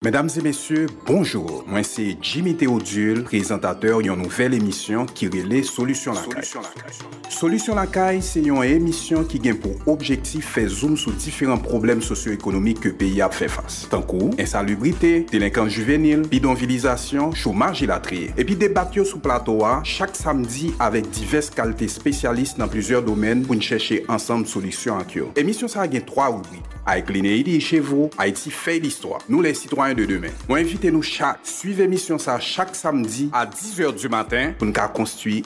Medam e mesye, bonjour! Mwen se Jimmy Theodule, prezantatè yon nouvèl emisyon ki rele Solisyon Lakay. Solisyon Lakay se yon emisyon ki gen pou objektif fè zoom sou diferan pwoblèm sosyo-ekonomik ke peyi a ap fè fas. tankou, ensalubrite, delenkans jivenil, bidonvilizasyon, chomaj elatriye. Epi debat yo sou plato a chak samdi avèk divès kalte spesyalis nan plizyè domèn pou n chèche ansanm solisyon ak yo. Emisyon sa a gen 3 ribrik, Avec Linéidi et chez vous, Haïti fait l'histoire, Nous les citoyens de demain. Mwen envite nou chak swiv emisyon sa chak samdi a 10 è di maten pou n ka konstwi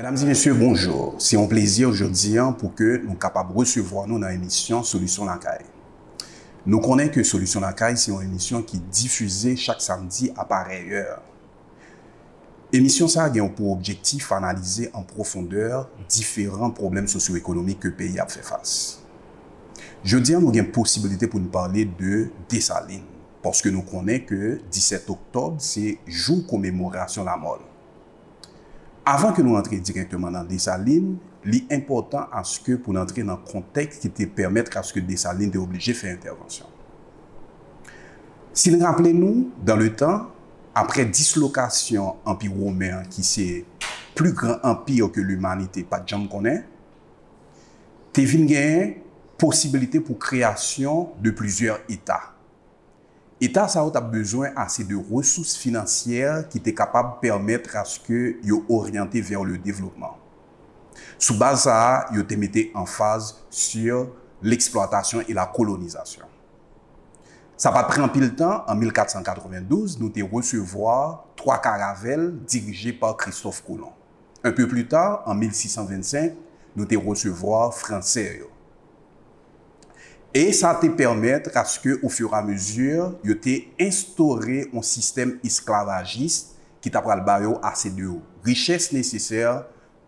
Medam e mesye bonjour, se yon plezi jodi an pou ke nou kapab resevwa nou nan emisyon Solisyon Lakay. Nou konnen ke Solisyon Lakay se yon emisyon ki difize chak samdi a parèy è. Emisyon sa gen pou objektif analize an pwofondè diferan pwoblèm sosyoekonomik ke peyi ap fè fas. Jodi an nou gen posibilite pou nou pale de Desalin, paske nou konnen ke 17 oktòb se jou komemorasyon lamò l. Avan ke nou antre dirèkteman nan Desalin, li enpòtan aske pou n antre nan kontèks ki te pèmèt aske Desalin te oblije fè entèvansyon. Si n raple nou, dan le tan, apre dislokasyon Anpi Women an ki se pli gran anpi ke limanite pa t janm konnen, te vin genyen posibilite pou kreyasyon de plizyè eta. Eta sa yo t ap bezwen ase de resous finansyè ki te kapab pèmèt aske yo oryante vers le développement. Sou baz sa a, yo te mete anfaz sur l'exploitation et la colonisation. Sa pa t pran anpil tan, an 1492, nou te resevwa 3 karavèl dirije par Christophe Colomb. Un peu plus tard, an 1625, nou te resevwa Fransè yo. E sa te pèmètre à ce que, au fur et à mesure, yo te enstore yon sistèm esklavajis ki ta pral ba yo ase de richès nesesè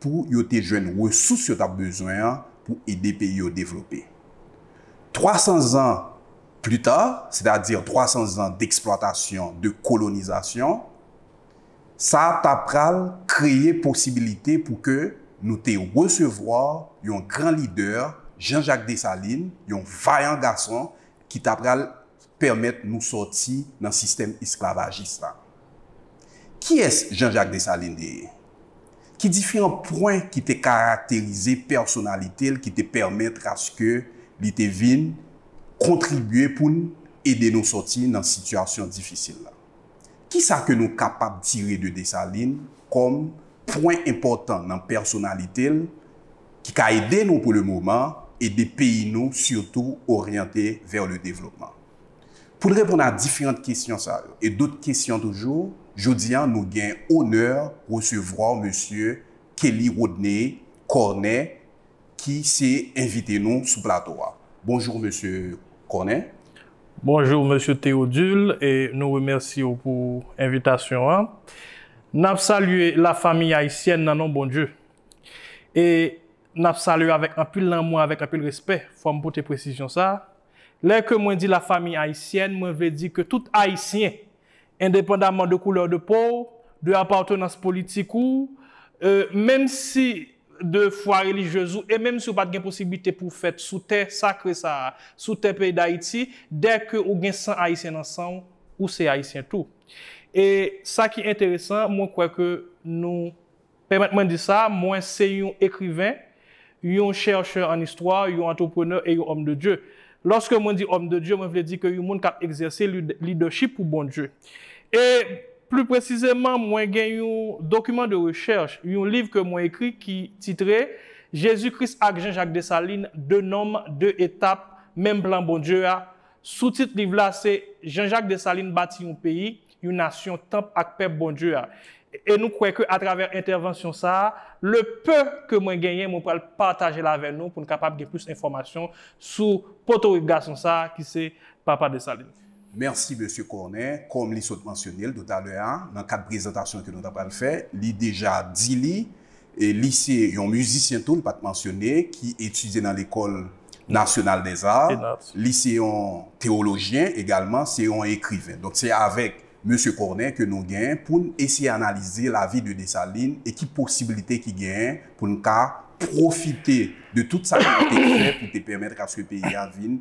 pou yo te jwenn resous yo t ap bezwen an pou ede peyi yo devlope. Twasan zan pli ta, sètadi twasan zan deksplwatasyon, de kolonizasyon, Sa ta pral kreye posibilite pou ke nou te resevwa yon gran lidè, Jean Jacques Dessalines, yon vayan gason ki ta pral pèmèt nou sòti nan sistèm esklavajis la. Kiyès Jean Jacques Dessalines te ye? Ki diferan pwen ki te karakterize pèsonalite l ki te pèmètre aske li te vin kontribye pou l ede nou sòti nan sitiyasyon difisil la? Kisa ke nou kapab tire de Desalin kòm pwen enpòtan nan pèsonalite l ki ka ede nou pou le moman, ede peyi nou sitou oryante vè le devlopman? Pou n reponn a diferant kesyon sa yo e dot kesyon toujou, jodi a nou gen onè resevwa w Mesye Kelly Rodney Cornet ki se envite nou sou plato a. Bonjour Mesye Corne. Bonjour Mesye Theodule e nou remèsye w pou envitasyon an. N ap salye la famiy ayisyèn nan non Bondye. E n ap salye avèk anpil lanmou avèk anpil respè. Fò m pote presizyon sa. Lè ke mwen di la famiy ayisyèn mwen vle di ke tout ayisyen Endepandaman de couleur de peau w, de appartenance politique ou, menm si de foi religieuse ou e menm si ou pat gen posibilite pou w fèt sou tè sakre sa a, sou tè peyi Dayiti, dè ke ou gen san Ayisyen nan san w, ou se Ayisyen tou. E sa ki enteresan, mwen kwè ke nou. Pèmèt mwen di sa, mwen se yon ekriven, yon chèchè an istwa, yon antreprenè e yon òm de Dye. Lòske mwen di òm de Dye, mwen vle di ke yon moun k ap egzèse lidèchip pou Bondye. E, pli presizeman, mwen gen yon dokiman de rechèch, yon liv ke mwen ekri ki titre, Jezi Kris ak Jan Jak Desalin, De Nonm, De Etap, Menm Plan Bondye a. Soutit liv la se, Jan Jak Desalin bati yon peyi. yon nasyon tanp ak pèp Bondye a, e nou kwè ke atravè entèvansyon sa a, le peu ke mwen genyen mwen pral pataje l avè nou pou n kapab gen plis enfòmasyon sou potorik gason sa a ki se Papa Desalin. Mèsi Mesye Corne, kòm li sot mansyone l toutalè a nan kad prezantasyon ke nou ta pral fè, li deja di li, Li se yon mizisyen tou, m pa t mansyone, ki etidye nan lekòl nasyonal dè za. Li se yon tewolojyen egalman, se yon ekriven. Donk se avèk Mesye Corneille ke nou gen pou n eseye analize lavi de Dessalines e ki posibilite ki genyen pou n ka pwofite de tout sa ke li te fè pou te pèmèt aske peyi a vin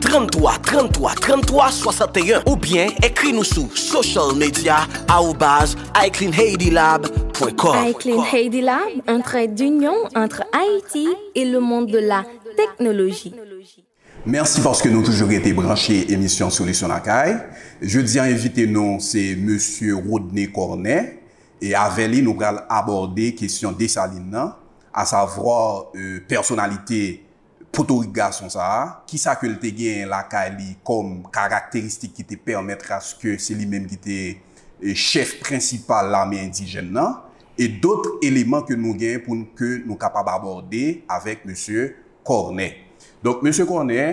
33 33 33 61 oubyen ekri nou sou social media arobase icleanhaitylab pwen kòm. Iclean Haiti Lab, un trait d'union entre Haïti et le monde de la technologie. Mèsi paske nou toujou rete branche emisyon Solisyon Lakay. Jodi an envite nou se Mesye Rodney Cornet e avè li nou pral abòde kesyon Dessalines nan, asavwa pèsonalite Potorik gason sa a? Kisa ke l te genyen lakay li kòm karakteristik ki te pèmètre aske se li menm ki te chèf prensipal lame endijèn nan? E dot eleman ke nou gen pou n ke nou kapab abòde avèk mesye Kòrnè. Donk mesye Kòrnè,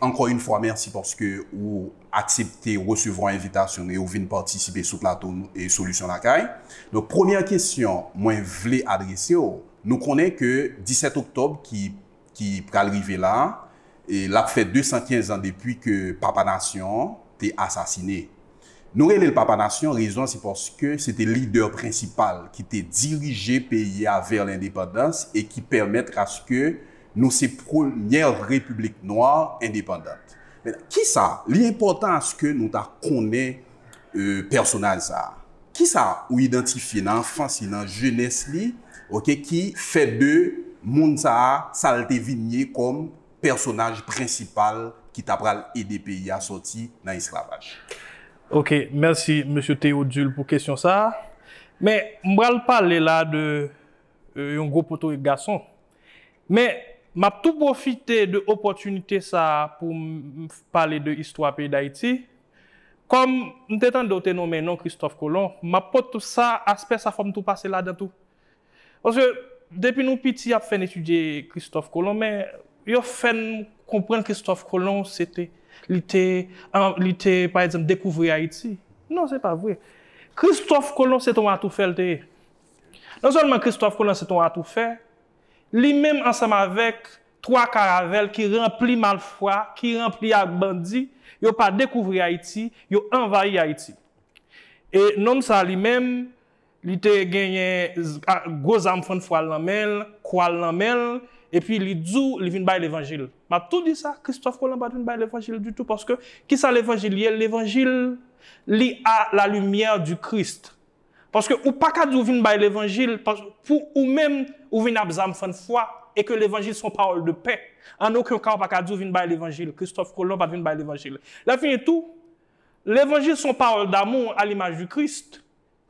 ankò yon fwa mèsi paske ou aksepte resevwa envitasyon nou e ou vin patisipe sou plato Solisyon Lakay. Donk premyè kesyon mwen vle adrese w, Nou konnen ke 17 oktòb ki ki pral rive la, l ap fè 215 an depi ke Papa Nasyon an te asasine. Nou rele l Papa Nasyon, rezon an se paske se te lidè prensipal ki te dirije peyi a vè lendepandans e ki pèmètre aske nou se premyè repiblik nwa endepandant. Kisa? Li enpòtan aske nou ta konnen pèsonaj sa a? Kisa ou idantifye nan anfans li, nan jenès li ok ki fè de moun sa a sa l te vin ye kòm pèsonaj prensipal ki ta pral ede peyi a sòti nan esklavaj? Ok, mèsi Mesye Théodule pou kesyon sa a. Men, m pral pale la a de yon gwo potorik gason. Men, m ap tou pwofite de opòtinite sa a pou m pale de istwa peyi Dayiti, Kòm m te tande w te nonmen non Kristòf Kolon, m ap pot tou sa, aspè sa fò m tou pase ladan tou. Paske depi nou piti y ap fè n etidye Kristòf Kolon men yo fè n konprann Kristòf Kolon se te li te li te pa egzanp dekouvri Ayiti. Non se pa vre. Kristòf Kolon se te yon atoufè l te ye. Non sèlman Kristòf Kolon se te yon atoufè, li menm ansanm avèk 3 karavèl ki ranpli malfwa, ki ranpli ak bandi, yo pa dekouvri Ayiti, yo anvayi Ayiti. E nonm sa li menm, li te genyen gwo zam fann fwa l nan men l, kwa l nan men l, epi li di w li vin bay levanjil. M ap tou di sa, Kristòf Kolan pa t vin bay levanjil ditou, paske ki sa levanjil ye? Levanjil li a la limyè di Christ. Paske ou paka di ou vin bay levanjil pou ou menm ou vin ap zam fann fwa e ke levanjil son pawòl de pè. An oken ka ou pa ka di ou vin bay levanjil. Kristòf Kolon pat vin bay levanjil. Lè fini tou, levanjil son pawòl damou a limaj di Krist.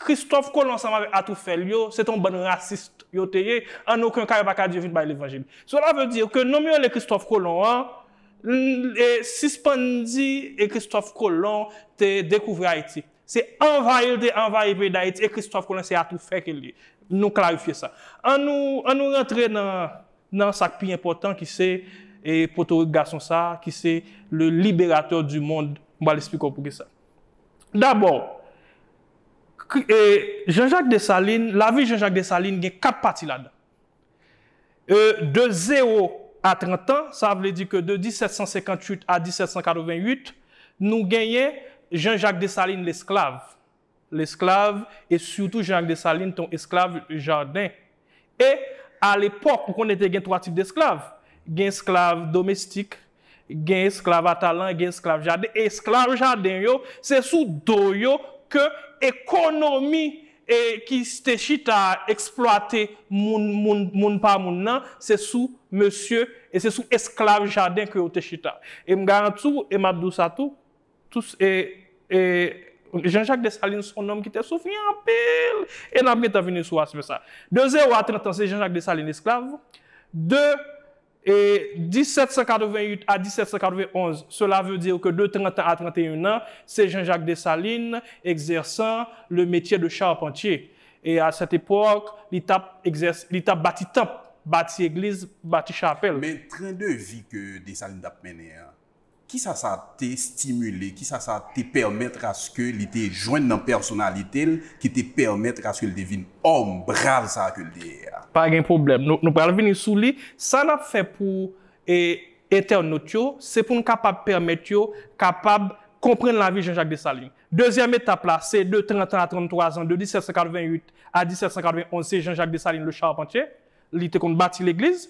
Kristòf Kolon ansanm avèk atoufè l yo, se te yon bann rasist yo te ye, an oken ka yo pa ka di yo vin bay levanjil. Sela ve dir ke nonm yo rele Kristòf Kolon an, sispann di Kristòf Kolon te dekouvri Ayiti. Se anvayi l te anvayi peyi Dayiti e Kristòf Kolon se atoufè ke l ye. Nou klarifye sa. An nou an nou rantre nan nan sa k pi enpòtan ki se e potorik gason sa a ki se le liberatè di mond. M pral esplike w poukisa. Dabò, k e Jan Jak Desalin lavi Jan Jak Desalin gen kat pati ladan. E de 0 a 30 an, sa vle di ke de 1758 a 1788, nou genyen Jean Jacques Dessalines lesklav, lesklav, e sitou Jean Jacques Dessalines te yon esklav jaden. E a lepòk, ou konnen te gen 3 tip desklav, gen esklav domestik, Gen esklav a talan, gen esklav jaden, e esklav jaden yo, se sou do yo ke ekonomi ki te chita a eksplwate moun, moun, moun pa moun nan, se sou mesye, e se sou esklav jaden ke yo te chita. E m garanti w, e m ap di w sa tou, tous, e, e, Jean Jacques Dessalines s on nonm ki te soufri anpil, e n ap gentan vini sou aspè sa. De 0 a 30 an se Jean Jacques Dessalines esklav, de E 1788 a 1791, sela veu dir keu deu 30 ans a 31 ans, se Jean-Jacques Dessalines exerçant le métier de charpentier. E a cette époque, li t ap exercer, li t ap bati tanp, bati egliz, bati chapèl. Men tren de vi keu Dessalines t ap mennen an, Kisa sa te stimile, kisa sa te pèmètre aske li te jwenn nan pèsonalite l ki te pèmètre aske l te vin òm brav sa ke l te ye a? Pa gen pwoblèm, nou pral vini sou li. Sa n ap fè pou entènot yo, se pou n kapab pèmèt yo kapab konprann lavi Jean Jacques Dessalines. Dezyèm etap la, se de 30 an a 33 zan, de 1788 a 1791, se Jean Jacques Dessalines le Charpentier, li te konn bati legliz.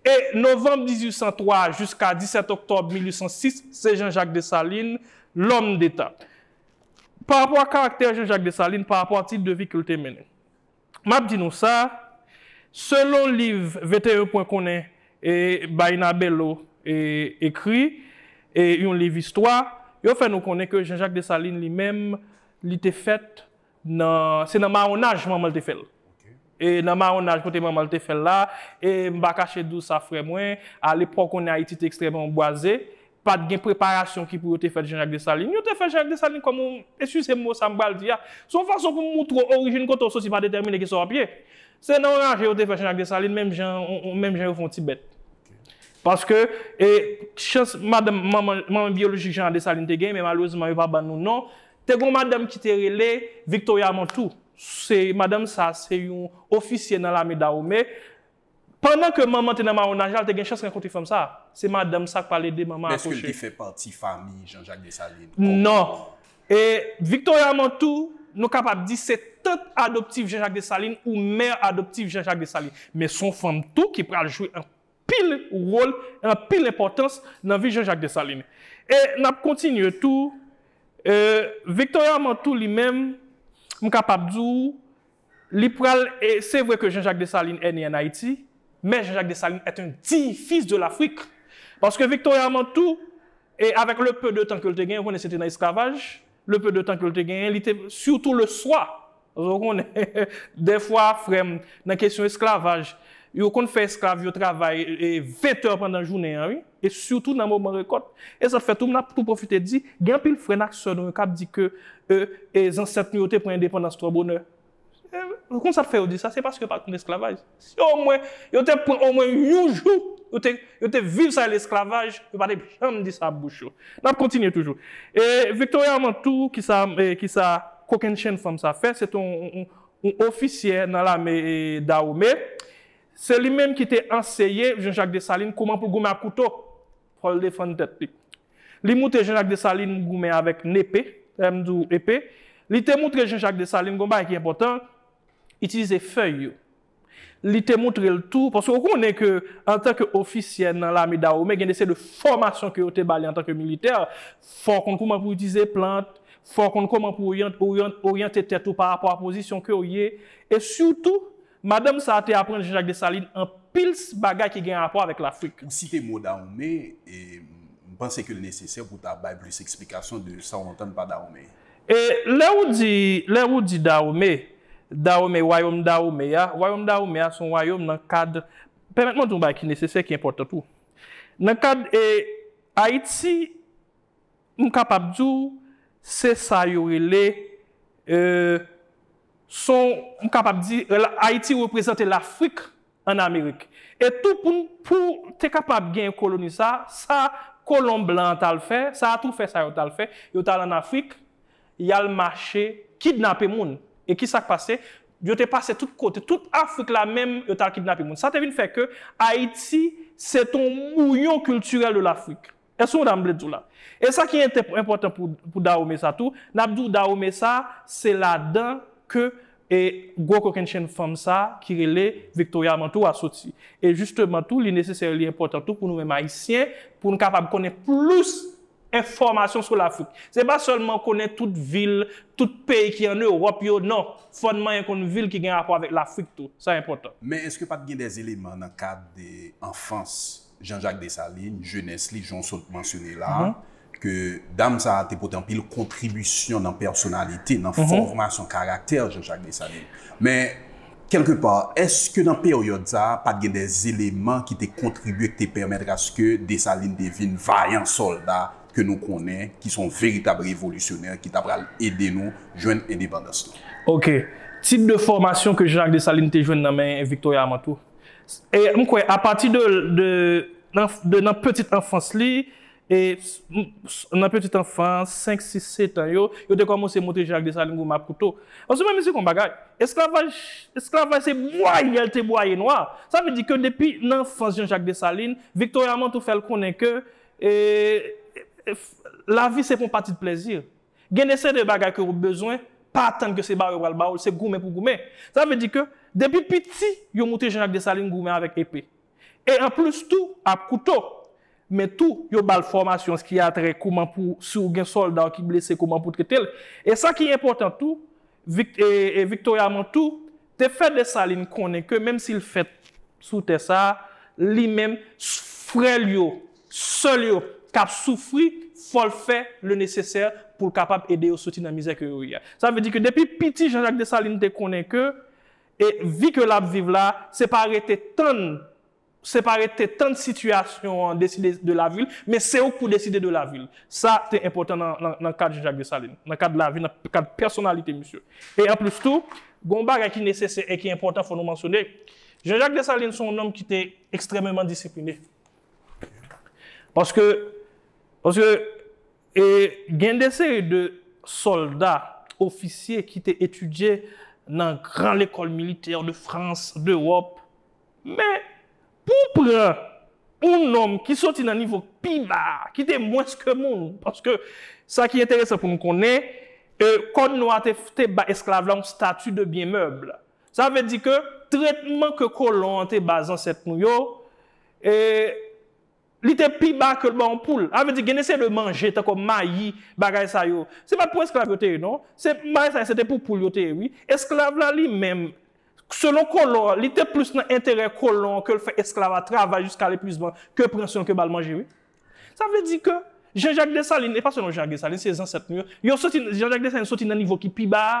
E novanm 1803 jiska 17 oktòb 1806 se Jean Jacques Dessalines, L'homme d'Etat. Pa rapò a karaktè Jean Jacques Dessalines, pa rapò a tip de vi ke l te mennen. M ap di nou sa, selon liv 21 pwen konnen e Baïna Bello ekri, e yon liv istwa, yo fè nou konnen ke Jean Jacques Dessalines li menm li te fèt nan se nan mawonaj manmanl te fèl e nan mawonaj kote manmanl te fèl la e m pa kache di w sa frè mwen a lepòk konnen ayiti te ekstrèman bwaze pat gen preparasyon ki pou yo te fèt Jean Jacques Dessalines yo te fè Jean Jacques Dessalines kòm yon eskize m mo sa m pral di a se yon fason pou moutre w orijin kote w soti pa detèmine kisa w ap ye se nan yon raje yo te fè Jean Jacques Dessalines menm jan menm jan yo fè yon ti bèt paske e chans madanm manman manman byolojik Jean Dessalines te gen men malerezman yo pa ban nou non Te gon madanm ki te rele Victoria Montou, se madanm sa se yon ofisye nan lame Dahome, pandan ke manman te nan mawonaj la l te gen chans rankontre fanm sa, se madanm sa k pral ede manman akouche. Men eske l te fè pati fami Jean Jacques Dessalines? Non. E Victoria Montou nou kapab di se tant adoptif Jean Jacques Dessalines ou mère adoptive Jean Jacques Dessalines. Men son fanm tou ki pral jwe pil wol e anpil enpòtans nan vi Jean-Jacques Dessalines. E n ap kontinye tou, e Victoria Mantoux li menm, m kapab di w, li pral, e se vre ke Jean-Jacques Dessalines est né en Haïti, mais Jean-Jacques Dessalines est un digne fils de l'Afrique. Paske Victoria Mantoux, e avèk le peu de tan ke l te genyen, ou konnen se te nan esklavaj, Le peu de tan ke l te genyen, li te, sitou le swa, paske ou konnen, dèfwa, frè m, nan kesyon esklavaj, yo konn fè esklav yo travay 20 tè pandan jounen an wi, e sitou nan moman rekòt. E sa fè tou, m ap tou pwofite di, gen anpil frè n ak sè nou yo k ap di ke, e, zansèt nou yo te pran endepandans twò bonè. E konn sa fè yo di sa, se paske yo pa konn esklavaj. Si omwen yo te pran omwen yon jou, yo te viv sa rele esklavaj, yo pa te janm di sa ap bouch yo. N ap kontinye toujou. E Victoria Amantou, ki sa, ki sa kokennchenn fanm sa fè, se te yon ofisyè nan lame Dawome. Se li menm ki te anseye Jean Jacques Dessalines kouman pou goumen ak kouto. Fòl defann tèt li. Li moutre Jean-Jacques Dessalines goumen avèk nepe, lè m di w epe, li te moutre Jean-Jacques Dessalines gon bagay ki enpòtan, itilize fèy yo. Li te moutre l tou, paske ou konnen ke antan ke ofisyè nan lame Dahomey gen de seri de fòmasyon ke yo te ba li antan ke militè, fò w konn kouman pou w itilize plant, fò w konn kouman pou w oryante tèt ou parapò a pozisyon ke w ye, e sitou, Madanm sa a te aprann Jean-Jacques Dessalines anpil bagay ki gen rapò avèk Lafrik. Ou site mo Dahomey e m panse ke l nesesè pou w ta bay plis eksplikasyon de sa w antann pa Dahomey. E lè ou di, lè ou di Dahomey, Dahomey, wayom Dahomey a, wayom Dahomey a se yon wayom nan kad, pèmèt mwen di yon bagay ki nesesè, ki enpòtan tou. Nan kad e Ayiti, M kapab di w se sa yo rele son m kapab di Ayiti reprezante Lafrik an Amerik. E tou pou pou te kapab gen koloni sa, sa kolon blan an t al fè, sa atoufè sa yo t al fè, yo t al an Afrik, y al mache kidnape moun. E ki sa k pase? Yo te pase tout kote, tout Afrik la menm yo t al kidnape moun. Sa te vin fè ke Ayiti se te yon bouyon kiltirèl de Lafrik. Èske ou konprann sa m vle di w la? E sa ki enpòtan pou Dahomey sa tou, n ap di w Dahomey sa se ladan ke gwo kokennchenn fanm sa ki rele Victoria Manteau a soti. E jisteman tou li nesesè li enpòtan tou pou nou menm Ayisyen pou n kapab konnen plis enfòmasyon sou Lafrik. Se pa sèlman konnen tout vil, tout peyi ki ann Ewòp yo, non! Fò n manyen konn vil ki gen rapò avèk Lafrik tou. Sa enpòtan. Men èske pa t gen dè eleman nan kad anfans Jean Jacques Dessalines, jenès li, jan w sot mansyone la a, ke dam sa a te pote anpil kontribisyon nan pèsonalite, nan fòmasyon karaktè Jean Jacques Dessalines. Men, kèlke pa, èske nan peryòd sa a, pa t gen de eleman ki te kontribye, ki te pèmètre aske Dessalines te vin vayan sòlda ke nou konnen, ki son veritab revolisyonè, ki ta pral ede nou jwenn endepandans nou? Ok. Tip de fòmasyon ke Jean Jacques Dessalines te jwenn nan men Victoria Amantou? E m kwè a pati de de nan petit anfans li, e nan petit anfans, 5, 6, 7 an yo, yo te kòmanse montre Jacques Dessalines gwo makouto. Paske mwen mezire yon bagay, esklavaj, esklavaj se bwaye l te bwaye nwa. Sa vle di ke depi nan anfans Jean Jacques Dessalines, Victoria Manteau fè l konnen ke e lavi se pa yon pati de plèzi. Gen de seri de bagay ke ou bezwen, pa atann ke se ba ou yo pral ba ou l, se goumen pou goumen. Sa vle di ke depi piti yo moutre Jean Jacques Dessalines goumen avèk epe. E an plis tou, ak kouto. Men tou, yo ba l fòmasyon an se ki a trè kouman pou, si ou gen sòlda ou ki blese kouman pou trete l. E sa ki enpòtan tou, Vic, e, e Victoria Montou te fè Dessalines konnen ke menm si l fèt sou tè sa a, li menm, frè l yo Sèl yo kap soufri fòl fè le nesesè poul kapab ede yo soti nan mizè ke yo ye a. Sa vle di ke depi piti Jean Jacques Dessalines te konnen ke e vi ke lap viv la se pa rete tann se pa rete tann sitiyasyon an deside de lavi l men se ou k pou deside de lavi l. Sa te enpòtan nan nan nan kad Jean Jacques Dessalines nan kad lavi nan kad pèsonalite misye. E anplis tou gon bagay ki nesesè e ki enpòtan fò nou mansyone Jean Jacques Dessalines se yon nonm ki te ekstrèmeman disipline. Paske, paske, e gen de seri de sòlda, ofisye ki te etidye nan gran lekòl militè de Frans, d'Euwòp. Men, pou w pran yon nonm ki soti nan nivo k pi ba a, ki te mwens ke moun, paske sa ki enteresan pou nou konnen, e kòd nwa a te, te ba esklav la yon stati de byen mèb. Sa vle di ke tretman ke kolon an te ba zansèt nou yo, E Li te pi ba ke l ba yon poul. Sa vle di gen de seri de manje tankou mayi, bagay sa yo. Se pa t pou esklav yo te ye non. Se bagay sa yo se te pou poul yo te ye wi. Esklav la li menm, selon kolon an, li te plis nan enterè kolon an ke l fè esklav a travay jiska lepuizman ke pran swen l ke ba l manje wi. Sa vle di ke Jean Jacques Dessalines, e pa selon Jean Jacques Dessalines, se zansèt nou yo, yo soti, Jean Jacques Dessalines soti nan nivo ki pi ba a.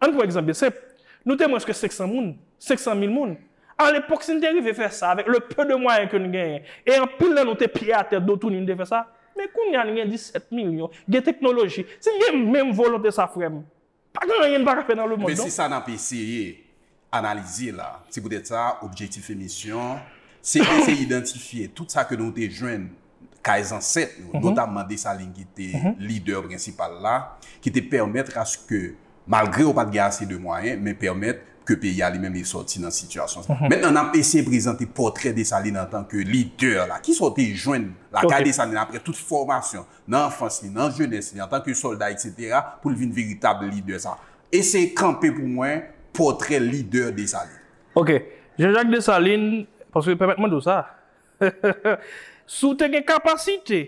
An n pran egzanp byen senp, nou te mwens ke 500 moun, 500 mil moun. Alepòk si n te rive fè sa avèk le peu de mwayen ke n genyen, e anpil nan nou te pye atè do touni n te fè sa, men kounye a n gen 17 milyon, gen teknoloji, si n gen menm volonte sa frè m, pa gen anyen n pa ka fè nan lemonn non. Menm si sa n ap eseye, Analize la. Se poutèt sa, objektif emisyon se eseye idantifye tout sa ke nou te jwenn kay zansèt yo, notamman Desalin ki te lidè prensipal la, ki te pèmèt aske malgre yo pa t gen ase de mwayen, men pèmèt ke peyi a li menm li sòti nan sitiyasyon sa. Mentnan, n ap eseye prezante pòtrè Desalin antanke lidè la. Kisa w te jwenn lakay Desalin apre tout fòmasyon, nan anfans li, nan jenès li, antanke sòlda, eksetera, pou l vin veritab lidè sa? Eseye kanpe pou mwen pòtrè lidè Desalin. Ok. Janjak Desalin, paske pèmèt mande w sa, si w te gen kapasite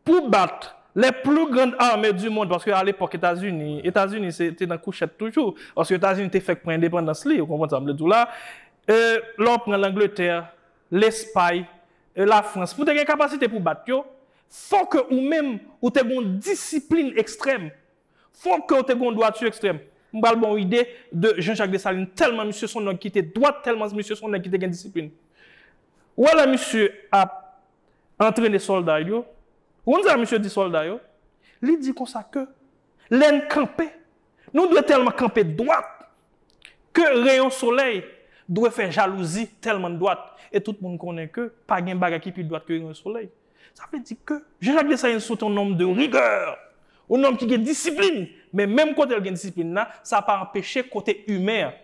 pou w bat les plus grandes armées du monde, paske alepòk Etazini, Etazini se te nan kouchèt toujou, paske Etazini te fèk pran endepandans li, ou konprann sa m vle di w la, e lè w pran Langletè, Lespay, e Lafrans, pou w te gen kapasite pou w bat yo, fò ke ou menm ou te gen yon disiplin ekstrèm Fok kew te gon dwati ekstrèm. M pral baw yon ide de Jean Jacques Dessalines tèlman misye son nèg kite dwat tèlman misye son nèg kite gen disiplin. Ou wè lè misye ap antrene sòlda l yo, ou konn sa misye di sòlda yo? Li di konsa ke lèn kanpe nou dwe tèlman kanpe dwat ke reyon solèy dwe fè jalouzi tèlman n dwat e tout moun konnen ke pa gen bagay ki pi dwat ke reyon solèy. Sa vle di ke Jean-Jacques Dessalines se te yon nonm de rigè, yon nonm ki gen disiplin, men menm kote l gen disiplin la, sa pa anpeche kote imen an.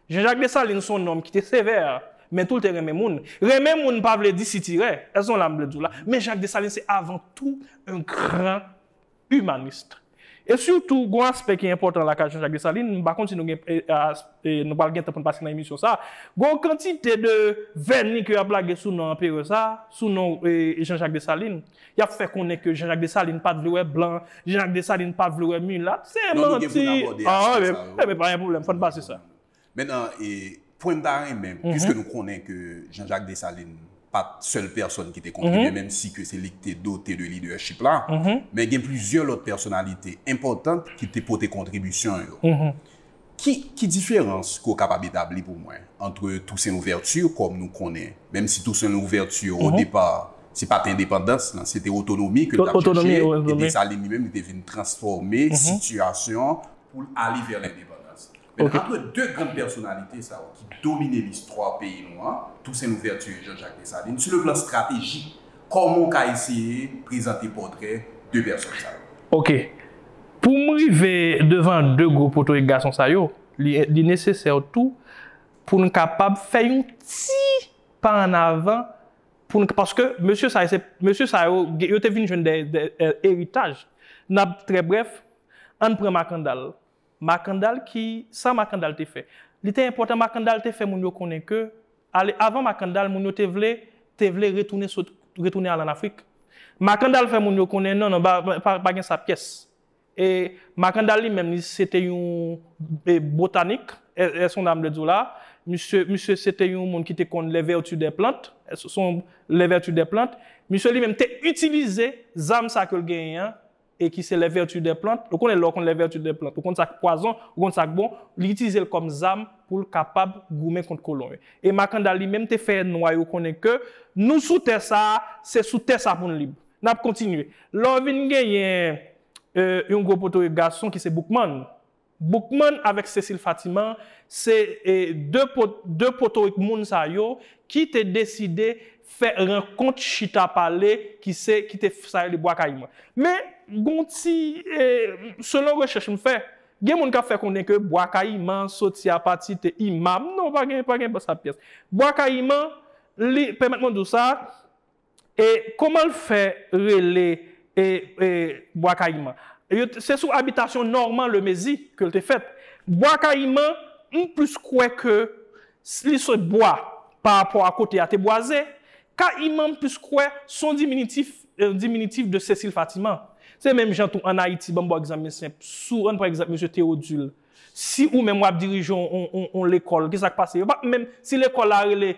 Jean-Jacques Dessalines se yon nonm ki te sevè, men tou l te renmen moun. Renmen moun pa vle di sitirè, èske nou wè sa m vle di w la? Men Jacques Dessalines se avan tou yon gran. imanist. E sitou gon aspè ki enpòtan la ka Jean Jacques Dessalines, m pa konn si nou gen nou pral gen tan pou n pase nan emisyon sa a, gon w kantite de vèni ke y ap lage sou non anperè sa a, sou non Jean Jacques Dessalines. Y ap fè konnen ke Jean Jacques Dessalines pa t vle wè blan, Jean Jacques Dessalines pa t vle wè milat, se manti, an, e ben pa gen pwoblèm fò n pase sa. Mennan e pwen m ta renmen, pwiske nou konnen ke Jean Jacques Dessalines pa t sèl pèsòn ki te kontribye, menm si ke se li ki te dote de lidèchip la, men gen plizyè lòt pèsonalite enpòtan ki te pote kontribisyon yo. Ki ki diferans ke w kapab etabli pou mwen antre Toussaint Louverture kòm nou konnen, menm si Toussaint Louverture o depa se pa t endepandans lan, se te otonomi ke l t ap chèche, e Dessalines li menm li te vin transfòme sitiyasyon pou l ale vè lendepandans. Men antre 2 grand pèsonalite sa yo ki domine listwa peyi nou an, Tousen Louvèti e Jan Jak Desalin, sou le plan stratejik, kòman ou ka eseye prezante pòtrè 2 pèsòn sa yo? Ok. Pou m rive devan 2 gwo poto e gason sa yo, li nesesè tou pou n kapab fè yon ti pa an avan pou n, paske mesye sa yo se, mesye sa yo, yo te vin jwenn dè eritaj. N ap trè brèf, an n pran Makandal. Makandal ki Sa Makandal te fè? Li te enpòtan Makandal te fè moun yo konnen ke ale avan Makandal moun yo te vle te vle retounen sot retounen al an Afrik. Makandal fè moun yo konnen non non ba pa pa gen sa pyès. E Makandal li menm li se te yon e botanik è è sonda m vle di w la. Misye misye se te yon moun ki te konn les vertus des plantes è son les vertus des plantes. Misye li menm te itilize zam sa ke l genyen an e ki se les vertus des plantes, ou konnen lè w konn les vertus des plantes, ou konn sa k pwazon, ou konn sa k bon, li itilize l kòm zam pou l kapab goumen kont kolon yo. E Makandal li menm te fè nwa yo konnen ke nou sou tè sa a, se sou tè sa a pou n lib. N ap kontinye. Lè w vin genyen yon gwo poto e gason ki se Boukman, Boukman avèk Cecile Fatiman se 2 potorik moun sa yo ki te deside fè rankont chita pale ki se ki te sa rele bwa kayiman. Men gon ti selon rechèch m fè gen moun kap fè konnen ke bwa kayiman soti a pati te imam non pa gen pa gen sa pyès. Bwa kayiman li pèmèt mwen di w sa E koman l fè rele e e Bwa Kayiman? Yo t se sou abitasyon Norman Lemezi ke l te fèt. Bwa Kayiman, m plis kwè ke s li se bwa pa rapò a kote a te bwaze. Kayiman m plis kwè s on diminitif, un diminutif de Cécile Fatiman. Se menm jan tou an Ayiti, ban m bon egzanp men senp, sou an n pran egzanp Mesye Théodule Si ou menm wap dirije yon lekòl ki sak pase yo pap menm si lekòl la rele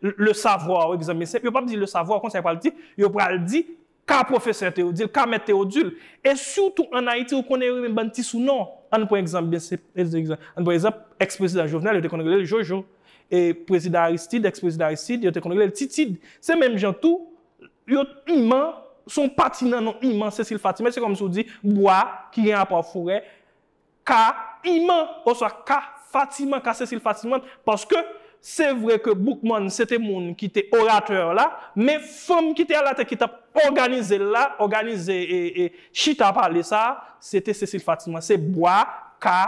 le savoir egzanmen senp yo pap di le savoir konsa yo pral di yo pral di ka pwofesè Théodule ka mèt Théodule e sitou an Ayiti ou konnen yo renmen bann ti sou non ann pran egzanp byen senp ann pran egzanp ex prezidan Jovenel yo te konn rele l Jojo e prezidan Aristide ex prezidan Aristide yo te konn rele l Titid se menm jan tou Yon iman, se yon pati nan non iman, Cécile Fatime, se kòmsi ou di, bwa, ki gen rapò ak forè, ka, iman, oswa ka, Fatiman, ka Cécile Fatiman, paske, se vre ke Boukman se te moun ki te oratè la, men fanm ki te alatè ki t ap òganize l la, òganize chita pale sa a, se te Cécile Fatiman. Se bwa, ka,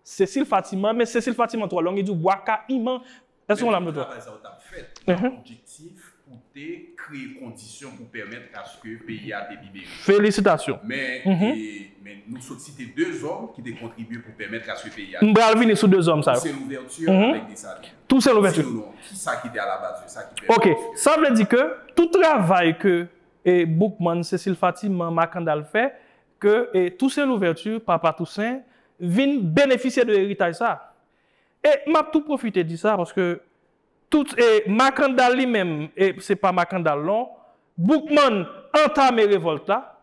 Cécile Fatiman, men Cécile Fatiman twò long, li di w bwa, ka, iman. Èske ou la m Travay sa yo t ap fèt nan objektif pou te kreye kondisyon pou pèmèt aske peyi a te libere. Felisitasyon. Men, nou sot site 2 zòm ki te kontribye pou pèmèt aske peyi a te libere. M pral vini sou 2 zòm sa yo. Tousen Louvèti avèk Desalin. Tousen Louvèti. Sinon non, ki sa ki te alabaz de sa ki pèmèt aske. Ok. Sa vle di ke tout travay ke Boukman, Sesil Fatiman, Makandal fè, ke Tousen Louvèti, Papa Tousen, vin benefisye de eritaj sa a. E map tou profite di sa paske tout e Makandal li menm e se pa Makandal non Boukman antame revolt la,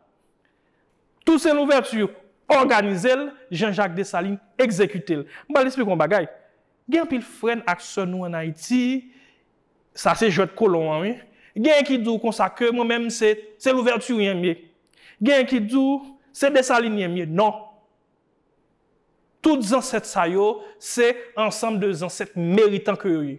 Toussaint Louverture òganize l, Jean Jacques Dessalines egzekite l. M pral esplike yon bagay, gen anpil frè n ak sè nou an Ayiti, sa se jwèt kolon an wi, genyen ki di w konsa ke mwen menm se se Louverturien m ye, genyen ki di w se Dessalines m ye, non! Tout zansèt sa yo se ansanm de zansèt meritan ke yo ye.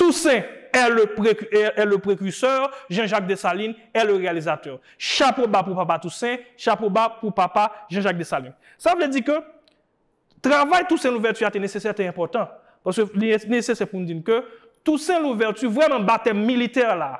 Toussaint est le est le precurseur, Jean Jacques Dessalines est le réalisateur. Chapo ba pou papa Toussaint, chapo ba pou papa Jean Jacques Dessalines. Sa vle di ke travay Toussaint Louverture a te nesesè, te enpòtan. Paske li nesesè pou nou di nou ke Toussaint Louverture vrèman batèm militè la,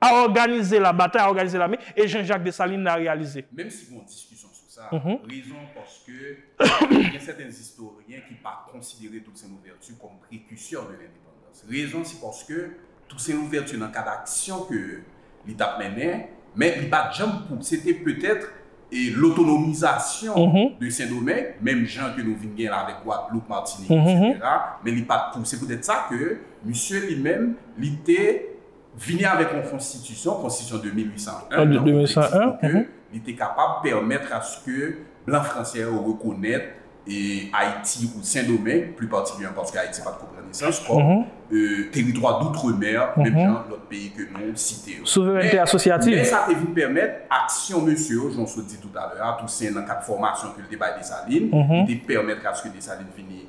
A òganize la batay, a òganize lame, e Jean Jacques Dessalines la reyalize. Menm si gon diskisyon sou sa, rezon an paske gen sèten istoryen ki pa konsidere Toussaint Louverture kòm prekisè de lendepandans. Rezon se paske Toussaint Louverture nan kad aksyon ke li tap mennen, men li pat janm pou, se te petèt e lotonomizasyon de Sendomeng, menm jan ke nou vin gen la avèk Gwadloup, Matinik, etc. Men li pat pou. Se petèt sa ke misye li menm li te Vini avèk yon konstitisyon, konstitisyon de 1801, nan objektif pou ke li te kapab pèmètre a se ke blan franse yo rekonèt Ayiti ou Sendomeng, pli patikilyèman paske Ayiti pa t ko pran nesans, kòm teritwa doutremer, menm jan lòt peyi ke nou site yo. Souverènte asosyativ. Men sa te vin pèmèt aksyon mesye yo, jan w sot di toutalè a, Tousen nan kad fòmasyon ke l te bay Desalin, li te pèmètre a se ke Desalin vini.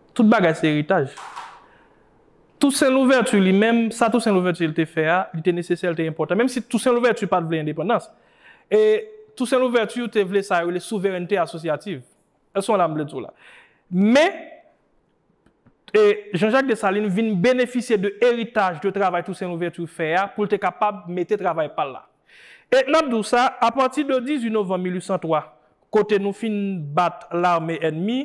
Tout bagay se eritaj. Tousen Louvèti li menm, sa Tousen Louvèti te fè a, li te nesesè, li te enpòtan. Menm si Tousen Louvèti pa t vle endepandans. E Tousen Louvèti te vle sa yo rele souverènte asosyativ. Èske w wè sa m vle di w la? Men, Jan Jak Desalin vin benefisye de eritaj de travay Tousen Louvèti fè a pou l te kapab mete travay pa l la. E n ap di w sa, apati de 18 novanm 1803, kote nou fin bat lame ènmi,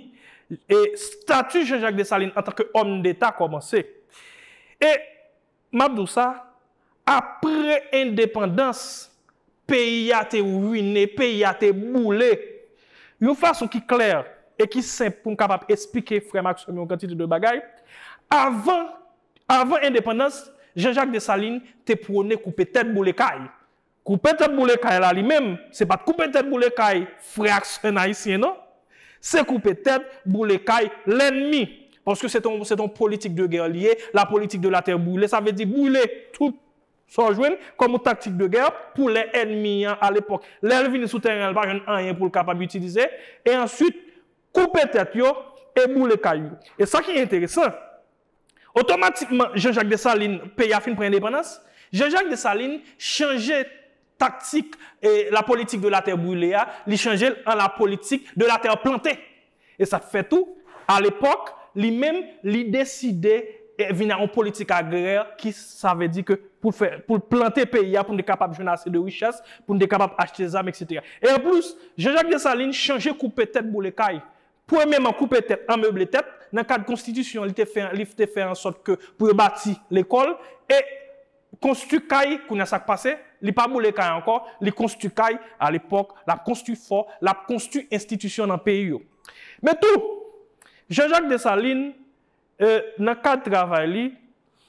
e stati Jan Jak Desalin antanke òmdeta kòmanse. E m ap di w sa, apre endepandans, peyi a te ruine, peyi a te boule. Yon fason ki klè e ki senp pou m kapab esplike frè m ak sè m yon kantite de bagay, avan Avan endepandans, Jean Jacques Dessalines te pwone koupe tèt boule kay. Koupe tèt boule kay la li menm, se pat koupe tèt boule kay frè ak sè n ayisyen non. Se koupe tèt boule kay lènmi. Paske se te yon politik de gè li ye, la politique de la terre brûlée, sa vle di boule tout sa w jwenn kòm yon taktik de gè pou lè ènmi an alepòk, lè l vini sou tèren an li pa jwenn anyen pou l kapab itilize, e answit koupe tèt yo e boule kay yo. E sa ki enteresan, Otomatikman Jean Jacques Dessalines peyi a fin pran endepandans, Jean Jacques Dessalines chanje taktik la politique de la terre brûlée a, li chanje l an la politique de la terre plantée. E sa fè tou a lepòk li menm li deside vin a yon politik agrè ki sa vle di ke pou l fè pou l plante peyi a pou n te kapab jwenn ase de richès pou n te kapab achte zam eksetera. E anplis Jean Jacques Dessalines chanje koupe tèt boule kay Premyeman, koupe tèt an meble tèt, nan kad konstitisyon li te fè an li te fè an sòt ke pou yo bati lekòl e konstwi kay, kounye a sa k pase, li pa boule kay ankò, li konstwi kay, alepòk, l ap konstwi fò, l ap konstwi enstitisyon nan peyi yo. Men tou, Jean Jacques Dessalines E nan kad travay li,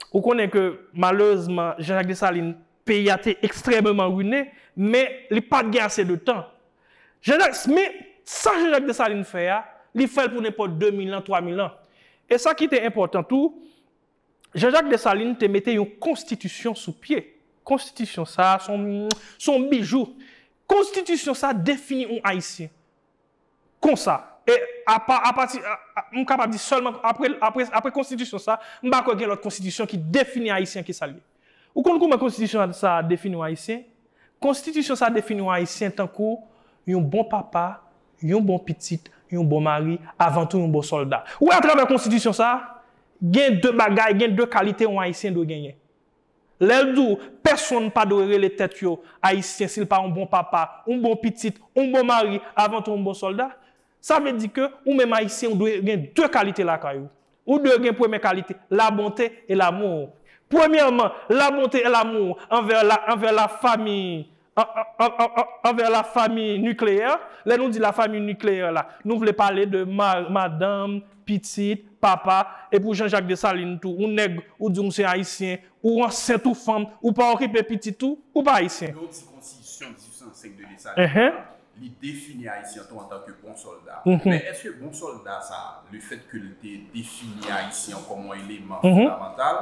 ou konnen ke malerezman Jean Jacques Dessalines peyi a te ekstrememan rine, men li pat gen ase de tan. Jean Jacques, men sa Jean Jacques Dessalines fè a, li fè l pou nenpòt 2 mil an, 3 mil an. E sa ki te enpòtan tou, Jean Jacques Dessalines te mete yon konstitisyon sou pye. Konstitisyon sa a son yon bijou. Konstitisyon sa a defini yon Ayisyen. konsa. E apa, apati, m kapab di sèlman apre, apre, apre konstitisyon sa, m pa kwè gen lòt konstitisyon ki defini Ayisyen ke sa l ye. Ou konn kouman konstitisyon sa a defini yon Ayisyen? Konstitisyon sa a defini yon Ayisyen tankou yon bon papa, yon bon pitit, yon bon mari, avantou yon bon sòlda. Ou wè atravè konstitisyon sa a, gen de bagay, gen de kalite yon Ayisyen dwe genyen. Lè l di w, pèsonn pa dwe rele tèt yo Ayisyen si l pa yon bon papa, yon bon pitit, yon bon mari, avan tou yon bon sòlda, sa vle di ke ou menm Ayisyen ou dwe gen de kalite lakay ou. Ou dwe gen premye kalite, la bonté et l'amour. Premyèman, la bonté et l'amour anvè la, anvè la famiy, anvè la fami nikleyè, lè nou di la fami nikleyè la, nou vle pale de mari, madanm, pitit, papa, e pou Jean Jacques Dessalines tou, ou nèg, ou di ou se Ayisyen, ou ansent ou fanm, ou pa okipe pitit ou, ou pa Ayisyen. Lè ou di konstitisyon 1805 de Dessalines la, li defini Ayisyen an tou antan ke bon sòlda. Men èske bon sòlda sa a, le fèt ke li te defini Ayisyen an kòm yon eleman fondamantal,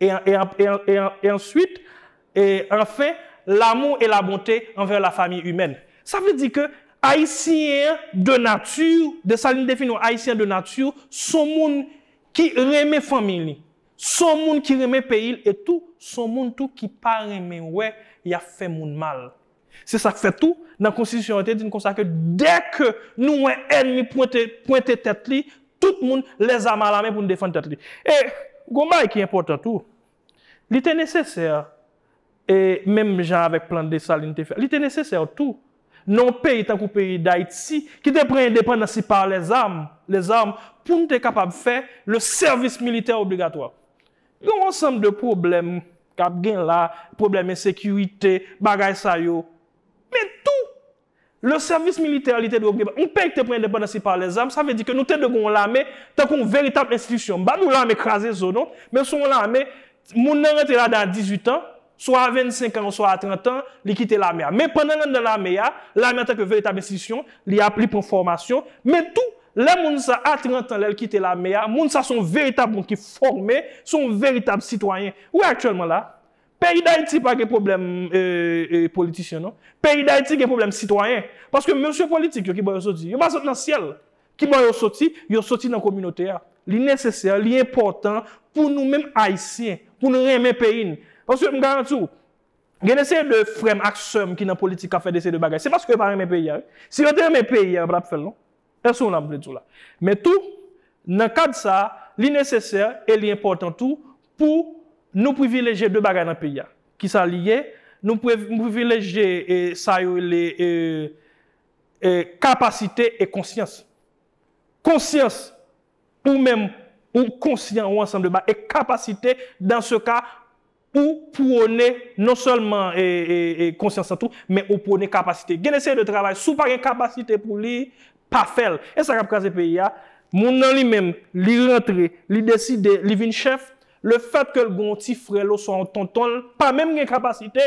E, e, e, e, e answit, e, anfen, lamou e labonte anvè lafami imèn. Sa vle di ke Ayisyen an de nati, Desalin te fin wè Ayisyen an de nati son moun ki renmen fanmi li, son moun ki renmen peyi l e tou son moun tou ki pa renmen wè y ap fè moun mal. Se sa k fè tou, nan konstitisyon an te di n konsa ke dè ke nou wè ènmi pwente pwente tèt li, tout moun lèzam alame pou n defann tèt li. E gon bagay ki enpòtan tou, li te nesesè, e menm jan avèk plan Desalin te fè, li te nesesè tou nan yon peyi tankou peyi Dayiti ki te pran endepandans li pa lèzam, les armes, pou n te kapab fè le sèvis militè obligatwa. Gen yon ansanm de pwoblèm k ap gen la, pwoblèm ensekirite, bagay sa yo. Men tou, le sèvis militè li te dwe oblib. Yon peyi ki te pran endepandans li pa lè zam, sa vle di ke nou te dwe gen yon lame tankou yon veritab enstitisyon. M pa di w lame kraze zo non, men se yon lame, moun nan rantre ladan a 18 an, swa a 25 an oswa a 30 an, li kite lame a. Men pandan l anndan lame a, lame antanke veritab enstitisyon, li ap li pran fòmasyon, men tou, lè moun sa a 30 an lè l kite lame a, moun sa a se yon veritab moun ki fòme, se yon veritab sitwayen. Ou wè aktyèlman la a, peyi Dayiti pa gen pwoblèm politisyen non. Peyi Dayiti gen pwoblèm sitwayen. Paske mesye politik yo ki bò yo soti, yo pa sot nan syèl. Ki bò yo soti? Yo soti nan kominote a. Li nesesè, li enpòtan pou nou menm Ayisyen, pou nou renmen peyi n. Paske m garanti w, gen de seri de frè m ak sè m ki nan politik k ap fè de seri de bagay, se paske yo pa renmen peyi a wi. Si yo te renmen peyi a, yo pa t ap fè l non. Èske w konprann sa m vle di w la? Men tou, nan kad sa a, li nesesè e li enpòtan tou pou nou privilejye de bagay nan peyi a. Kisa li ye? Nou privilejye sa yo rele E kapasite e konsyans. Konsyans, ou menm ou konsyan ou ansanm de bagay. E kapasite, dan se ka, ou pwone non sèlman e konsyans lan tou, men ou pwone kapasite. Gen de seri de travay, si w pa gen kapasite pou li, pa fè l. E sa k ap kraze peyi a. Moun nan li menm, li rantre, li deside, li vin chèf, lefètke l gen yon ti frè l oswa yon tonton l, pa menm gen kapasite,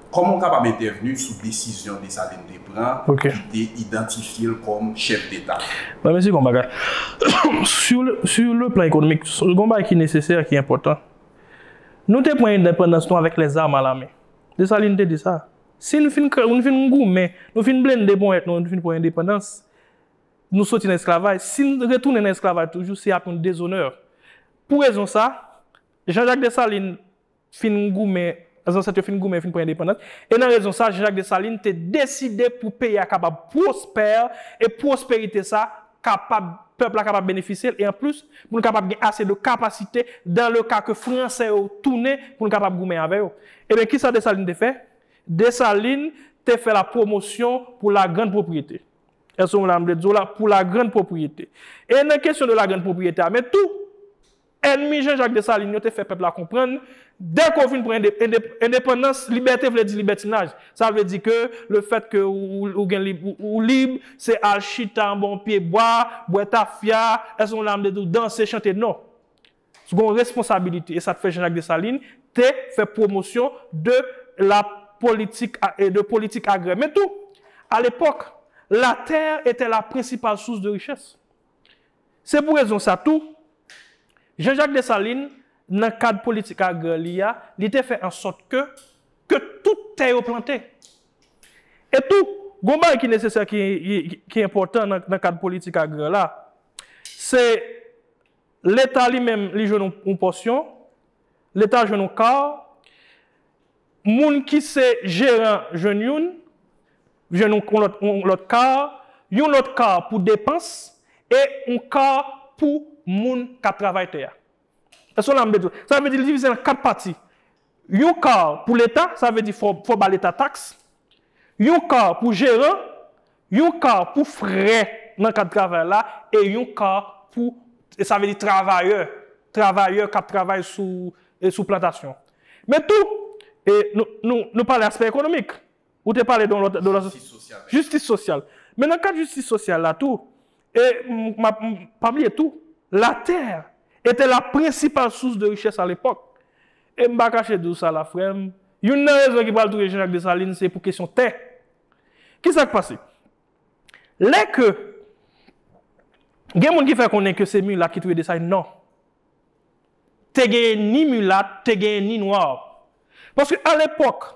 Kòman w kapab entèvni sou desizyon Desalin te pran ki te idantifye l kòm chèf deta? Mwen mezi yon bagay. Sou le plan ekonomik, gen yon bagay ki nesesè, ki enpòtan. Nou te pran endepandans nou avèk lèzam a lamen. Desalin te di sa. Si nou fin goumen, nou fin blende ponyèt nou, nou fin pran endepandans, nou soti nan esklavaj, si nou retounen nan esklavaj toujou, se ap yon dezonè. Pou rezon sa, Janjak Desalin, fin goumen, zansèt yo fin goumen fin pran endepandans, e nan rezon sa Jean-Jacques Dessalines te deside pou peyi a kapab pwospè e pwosperite sa kapab pèp la kapab benefisye l e an plis pou nou kapab gen ase de kapasite dan le ka ke fransè yo tounen pou nou kapab goumen avè yo. Ebyen ki sa Dessalines te fè? Dessalines te fè la pwomosyon pou la grand pwopriyete. Èske w konprann sa m vle di w la? Pou la grand pwopriyete. E nan kesyon de la grand pwopriyete a men tou Ènmi Jan Jak Desalin yo te fè pèp la konprann, dèke w vin pran endepandans, libète vle di libètinaj. Sa vle di ke le fèt ke ou gen ou lib, se al chita anba yon pye bwa, bwè tafya, èske w nan tou danse, chante? Non. Ou gen yon responsabilite. E sa te fè Jan Jak Desalin te fè pwomosyon de la politik, de politik agrè. Men tou, a lepòk, la tè etè la prensipal sous de richès. Se pou rezon sa tou, Jean Jacques Dessalines, nan kad politik agrè li a, li te fè ansòt ke, ke tout tè yo plante. E tou, gon bagay ki nesesè ki, ki enpòtan nan kad politik agrè la, se Leta li menm li jwenn yon pòsyon, Leta jwenn yon kar, moun ki se jeran jwenn youn, jwenn yon lòt yon lòt car, yon lòt car pou depans e yon car pou moun k ap travay tè a. Èske w la m byen di w? Sa vle di li divize l an 4 pati. Yon car pou leta, sa vle di fò w ba leta tax, yon car pou jeran, yon car pou frè nan kad travay la e yon car pou sa vle di travayè, travayè k ap travay sou sou plantasyon. Men tou, nou pale aspè ekonomik. Ou te pale de yon lòt, de lòt. Jistis sosyal menm. Jistis sosyal. Men nan kad jistis sosyal la tou, e m ap, pa bliye tou, la terre était la principale source de richesse à l'époque. E m pa kache di w sa la frè m, youn nan rezon ki pral touye Jean Jacques Dessalines se pou kesyon tè. Ki sa k pase? Lè ke gen moun ki fè konnen ke se milat ki touye Dessalines, non. Te genyen ni milat, te genyen ni noir. Paske a l'époque,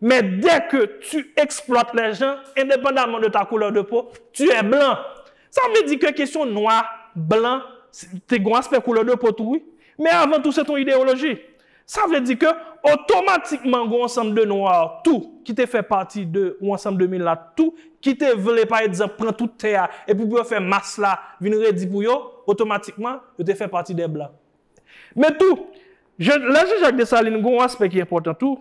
Men dè ke tu eksplwat lè jan, endepandaman de ta koulè de po, tu è blan. Sa vle di ke kesyon nwa, blan, te gon aspè koulè de po tou wi. Men avan tou se ton ideyoloji. Sa vle di ke otomatikman gon ansanm de nwa tou ki te fè pati de yon ansanm de milat tou ki te vle pa ekzanp pran tout tè a epi pou yo fè mas la vin redi pou yo, otomatikman yo te fè pati dè blan. Men tou, lè Jan Jak Desalin gen yon aspè ki enpòtan tou,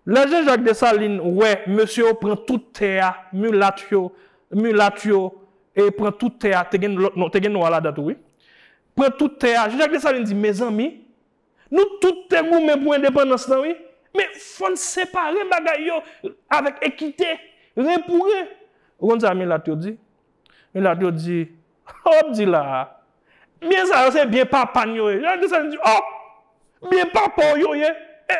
lè Jan Jak Desalin wè mesye yo pran tout tè a, milat yo, milat yo e pran tout tè a, te gen lòt non, te gen nwa ladan tou wi, pran tout tè a, Jan Jak Desalin di, mezanmi, nou tout te goumen pou endepandans lan wi, men fò n separe bagay yo avèk ekite, ren pou ren. Ou konn sa milat yo di? Milat yo di, Sa w ap di la a? Byen sa yo se byen papa n yo ye. Yo desann di, O! Byen papa w yo ye? E,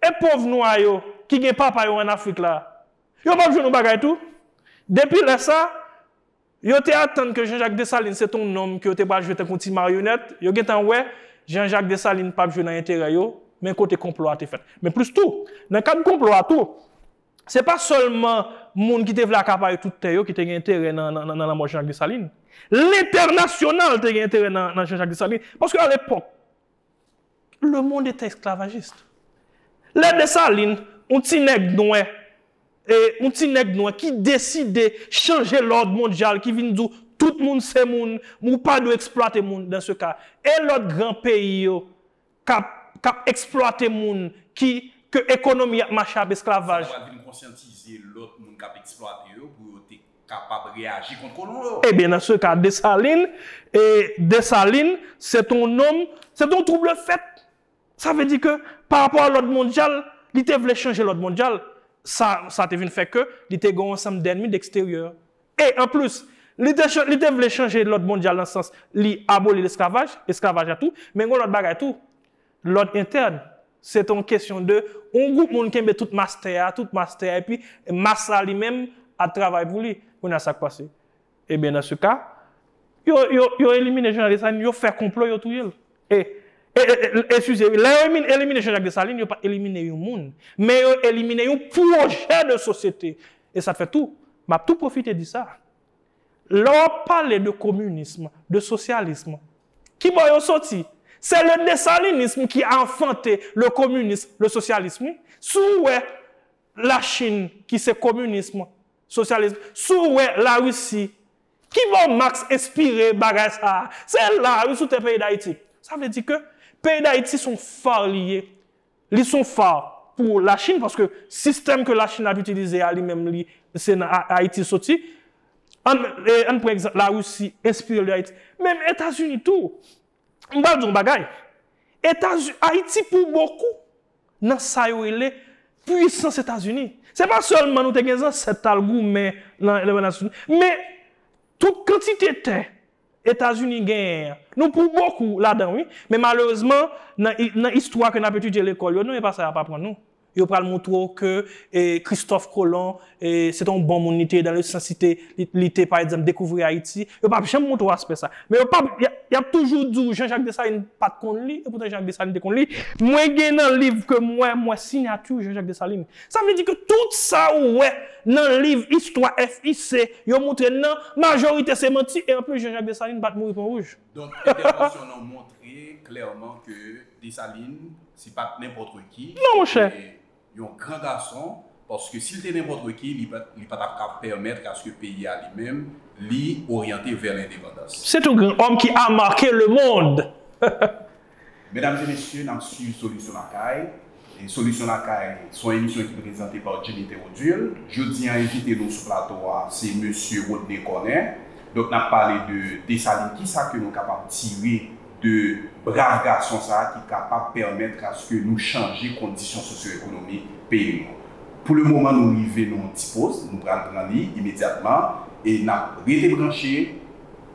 e pov nwa yo ki gen papa yo ann Afrik la a? Yo pap jwenn yon bagay tou? Depi lè sa a, yo te atann ke Jean-Jacques Dessalines se te yon nonm ke yo te pral jwe tankou yon ti maryonèt. Yo gen tan wè Jean-Jacques Dessalines pap jwe nan enterè yo, men kote konplo a te fèt. Men plis tou, nan kad konplo a tou, Se pa sèlman moun ki te vle akapare tout tè yo ki te gen enterè nan lanmò Jean-Jacques Dessalines. Lentènasyonal te gen enterè nan Jean-Jacques Dessalines. Paske alepòk, lemonn eta esklavajist. Lè Dessalines, yon ti nèg nwè, yon ti nèg nwè ki deside chanje lòd mondyal, ki vin di w tout moun se moun, ou pa dwe eksplwate moun, dan se ka, e lòt gran peyi yo, kap kap eksplwate moun ki ke ekonomi ap mache ap esklavaj. Sa ta pral vin konsyantize lòt moun kap eksplwate yo pou yo te kapab reyaji kont kolon yo. Ebyen nan se ka Desalin e Desalin se te yon nonm se te yon trouble fèt sa vle di ke pa rapò a lòd mondyal li te vle chanje lòd mondyal sa sa te vin fè ke li te gen yon ansanm dènmi deksteryè E, anplis, li te chan, li te vle chanje lòd mondyal nan sans li aboli lesklavaj, esklavaj la tou, men gen yon lòt bagay tou, lòd entèn. Se te yon kesyon de yon gwoup moun kenbe tout mas tè a, tout mas tè a, epi mas la li menm ap travay pou li. Kounye a sa k pase? Ebyen nan se ka, yo, yo, yo elimine Jean-Jacques Dessalines, yo fè konplo yo touye l. E, e, e, e, eskize wi, lè yo emin, elimine Jean-Jacques Dessalines, yo pa t elimine yon moun, men yo elimine yon pwojè de sosyete. E sa fè tou, m ap tou pwofite di sa, lè w ap pale de kominism, de sosyalism, ki bò yo soti? Se le desalinism ki a anfante le kominism, le sosyalism wi. Si w wè Lachin ki se kominism, sosyalism, si w wè Larisi, ki bò Max enspire bagay sa a? Se la a wi, sou tè peyi Dayiti. Sa vle di ke peyi Dayiti se yon far li ye. Li son phare pou la chine paske sistèm ke la chine ap itilize a li menm li se nan ayiti soti an an pran egzanp la russie enspire de ayiti menm etazini tou m pral di yon bagay etazi ayiti pou bokou nan sa yo rele pwisans etazini se pa sèlman nou te gen zansèt tal goumen nan men tout kantite tè Etazini genyen an. Nou pou bokou ladan wi, men malerezman nan istwa ke nap etidye lekòl yo non e pa sa yap aprann nou. Yo pral moutre w ke Christophe Colomb se te yon bon moun li te ye dan le sans li te pa egzanp dekouvri Ayiti. Yo pap janm moutre w aspè sa. Men yo pap, yap toujou di w Jean Jacques Dessalines pat konn li, epoutan Jean Jacques Dessalines te konn li. Mwen gen nan liv ke m wè, m wè sinyati Jean Jacques Dessalines. Sa vle di ke tout sa ou wè nan liv istwa FIC yo moutre n nan, majorite se manti e anplis Jean Jacques Dessalines pa t mouri Pon Wouj. Donk entèvansyon nan moutre klèman ke Dessalines se pa t nenpòtreki, li te yon gran gason, paske si l te nenpòtreki li pa t ap ka pèmèt aske peyi a li menm li oryante vè lendepandans. Se t yon gran òm ki a make lemond. Medam e mesye nap swiv solisyon lakay e solisyon lakay se yon emisyon ki prezante pa Jimmy Theodule jodi an envite nou sou plato a se mesye Rodney Corner donk nap pale de Dessalines kisa ke nou kapab tire de brav gason sa ki kapab pèmèt aske nou chanje kondisyon sosyo ekonomik peyi nou pou le moman nou rive nan yon ti poz nou pral pran li imedyatman e nap rete branche.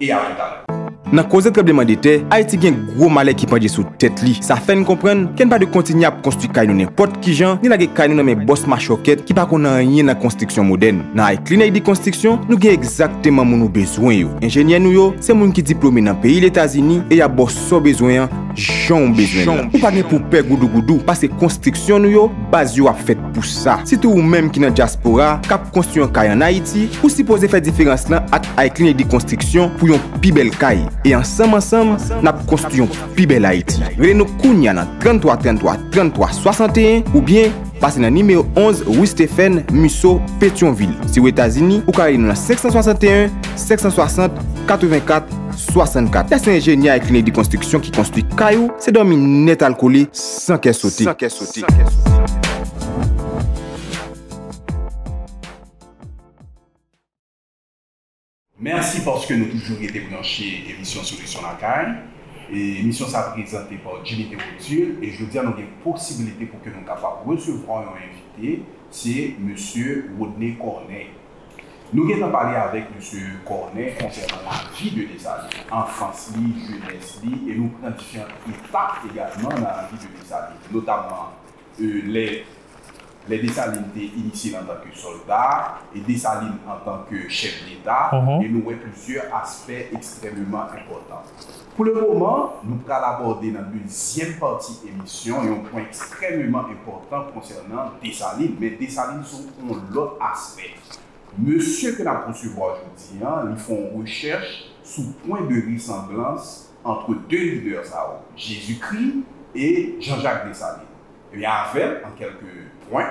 e a lontan. Nan koze tranbleman de tè, Ayiti gen gwo malè ki pandje sou tèt li. Sa fè n konprann ke n pa dwe kontinye ap konstwi kay nou nenpòt kijan, ni lage kay nou nan men bòs machòkèt ki pa konn anyen nan konstriksyon modèn. Nan Ay Klin Ayiti Konstriksyon, nou gen egzakteman moun ou bezwen yo. Enjenyè nou yo, se moun ki diplome nan peyi Letazini e y ap ba w sa w bezwen an, jan w bezwen l la. Ou pa gen pou w pè goudougoudou, paske konstriksyon nou yo, baz yo ap fèt. pou sa. Sitou ou menm ki nan dyaspora, k ap konstwi yon kay an Ayiti, ou sipoze fè diferans lan ak Ayclean Edi Konstriksyon pou yon pi bèl kay. E ansanm ansanm, n ap konstwi yon pi bèl Ayiti. Rele nou kounya nan 33 33 33 61 oubyen pase nan nimewo 11 rue Stephen Musseau, Petyonvil. Si ou Etazini, ou ka rele nou nan 561 560 84 64. Lè se enjenyè Ayclean Edi Konstriksyon ki konstwi kay ou, se dòmi nètalkole. san kè sote. Mèsi paske nou toujou rete branche emisyon Solisyon Lakay. Emisyon sa prezante pa Jimmy Théodule e jodia nou gen posibilite pou ke nou kapab resevwa yon envite, se Mesye Rodney Corneille. Nou gentan pale avèk Mesye Cornet konsènan lavi de Desalin, anfans li, jenès li, e nou pran diferant etap egalman nan lavi de Desalin, notamman lè lè Desalin te inisye l antan ke sòlda, e Desalin antan ke chèf deta, e nou wè plizyè aspè ekstrèmeman enpòtan. Pou le moman, nou pral abòde nan dezyèm pati emisyon yon pwen ekstrèmeman enpòtan konsènan Desalin, men Desalin sou yon lòt aspè. Mesye ke n ap resevwa jodi an, li fè yon rechèch sou pwen de resanblans antre 2 lidè sa yo, Jezikri e Janjak Desalin. Ebyen avè m, an kèlke pwen,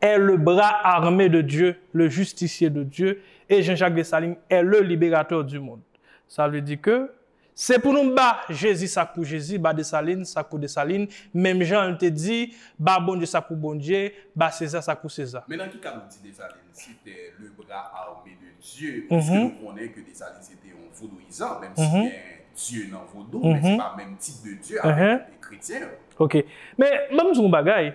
est le bras armé de Dieu, le justicier de Dieu, et Jean Jacques Dessalines est le libérateur du monde. Sa vle di ke, se pou nou ba Jezi sa k pou Jezi, ba Desalin sa k pou Desalin, menm jan l te di, ba Bondye sa k pou Bondye, ba Seza sa k pou Seza. Men nan ki ka nou di Desalin se te le bra arme de Dye, piske nou konnen ke Desalin se te yon vodouyizan, menm si gen Dye nan vodou, men se pa menm tip de Dye avèk kretyen yo. Ok. Men, banm di w yon bagay.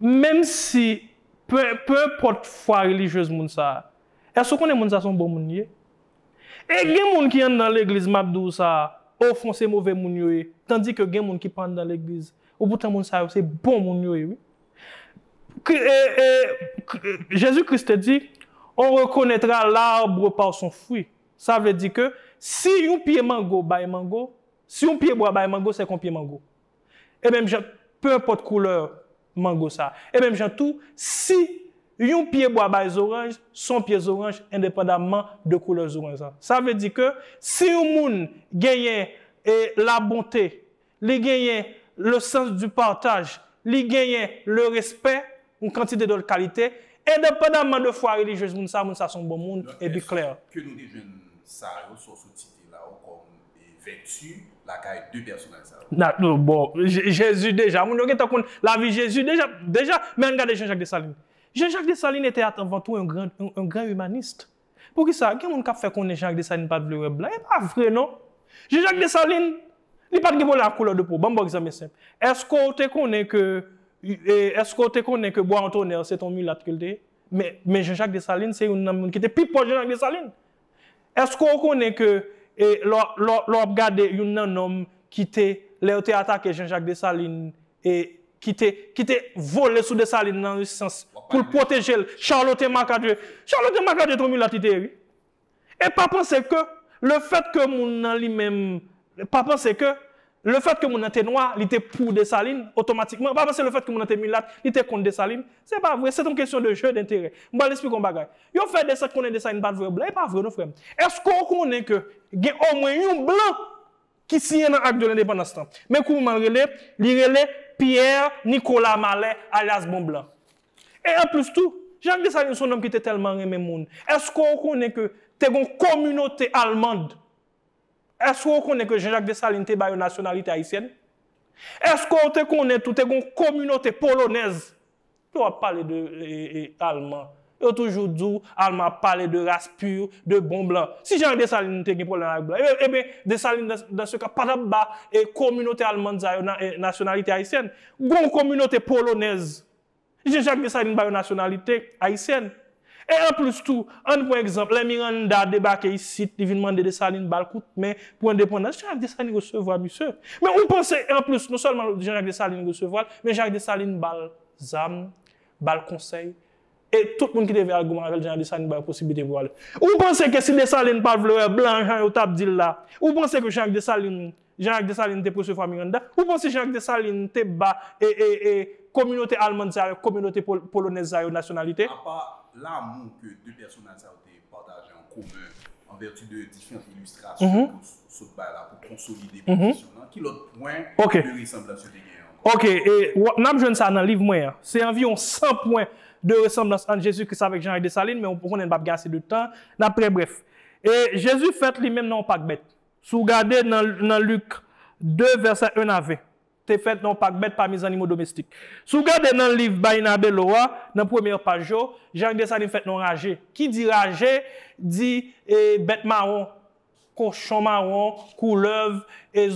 Menm si, pe, pe enpòt fwa relijyez moun sa a, èske ou konnen moun sa a se yon bon moun li ye? E gen moun ki anndan legliz m ap di w sa a, ofon se move moun yo ye, tandike gen moun ki pa anndan legliz, epoutan moun sa yo se bon moun yo ye wi. Kri, e, e, kri, e, Jezi Kris te di, On rekonètra l'arbre par son fruit. Sa vle di ke si yon pye mango bay mango, si yon pyebwa bay mango, se ke yon pye mango. E menm jan, peu enpòt couleur mango sa. E menm jan tou, si yon pye bwa bay zoranj, son pye zoranj endepandamman de couleur zoranj lan. Sa vle di ke si yon moun genyen e la bonté, li genyen le sens du partage, li genyen le respect, Yon kantite dòt kalite, endepandaman de fwa relijyez moun sa, moun sa son bon moun, e bi klè. Eske nou te jwenn sa yo sa w sot site la yo kòm vèti lakay de pèsonaj sa yo? Na, nou, bon, Jezi deja, moun yo gentan konn lavi Jezi deja, deja, men ann gade Jean-Jacques Dessalines. Jean-Jacques Dessalines ete atanvantou un grand, un grand humaniste. Poukisa gen moun kap fè konnen Jean-Jacques Dessalines pat vle wè blan? E pa vre non! Jean-Jacques Dessalines, li pat gen pwoblèm ak koulè de po. Banm baw egzanp e senp. Eske w te konnen ke eske w te konnen ke Bois en Tonnerre se te yon milat ke l te ye? Men men Jean-Jacques Dessalines se youn nan moun ki te pi pwòch Jean-Jacques Dessalines. Eske w konnen ke e lè w lè w ap gade youn nan nonm ki te lè yo te atake Jean-Jacques Dessalines e ki te ki te vole sou Dessalines nan yon sans pou l pwoteje l Charlotte Marcadieu Charlotte Marcadieu te yon milat li te ye wi e pa panse ke le fèt ke moun nan li menm pa panse ke le fèt ke moun nan te nwa li te pou Dessalines otomatikman pa panse le fèt ke moun nan te milat li te kont Dessalines se pa vre se t yon kesyon de jeu d'intérêt m pral esplike w yon bagay yo fè desant konnen Dessalines pa t vrè blan e pa vre non frè m èske w konnen ke gen omwen yon blan ki siyen nan Ak de Lendepandans lan. Men kouman l rele, li rele Pierre Nicolas Mallet alyas Bon Blan. E anplis tou, Jacques Dessalines s on nonm ki te tèlman renmen moun. Èske w konnen ke te gen yon kominote almand? Èske w konnen ke Jean Jacques Dessalines te ba yo nasyonalite ayisyèn? Èske w te konnen tou te gen yon kominote polonèz Lè wap pale de alman, yo toujou di w alman ap pale de ras pur, de bon blan. Si Jean Dessalines te gen pwoblèm avèk blan, eben Dessalines dans ce cas pa tap ba kominote almand sa yo nasyonalite ayisyèn. Gon kominote polonèz, Jean Jacques Dessalines ba yo nasyonalite ayisyèn. E anplis tou, ann pran egzanp, lè Miranda debake isit, li vin mande Desalin ba l kout men pou endepandans, Jan Jak Desalin resevwa misye. Men ou panse, e anplis, non sèlman Jan Jak Desalin resevwa l, men Jan Jak Desalin ba l zam, ba l konsèy, e tout moun ki te vle al goumen avè l, Jan Jak Desalin ba yo posiblite pou yo ale. Ou panse ke si Desalin pa t vle wè blan jan yo t ap di l la, ou panse ke Jan Jak Desalin Jean Jacques Dessalines te presevwa Miranda. Ou panse Jean Jacques Dessalines te ba kominote almand sa yo ak kominote polonèz sa yo nasyonalite? Apa lamou ke 2 pèsonaj sa yo te pataje an komen an vèti de diferant ilistrasyon ke w sot bay la pou konsolide pozisyon w lan, ki lòt pwen de resanblans yo te genyen ankò? Ok. N ap jwenn sa nan liv mwen an. Se anviwon 100 pwen de resanblans ant Jezi Kris avèk Jean Jacques Dessalines, men ou konnen n pa p gen ase de tan, n ap trè brèf. Jezi fèt li menm nan yon pak bèt. Si w gade nan Lik ii, vèsè 1 a 20, te fèt nan yon pak bèt pami zannimo domestik. Si w gade nan liv Bayyinah Bello a, nan premyè paj yo, Jacques Dessalines fèt nan yon raje. Ki di raje, di bèt mawon, kochon mawon, koulèv,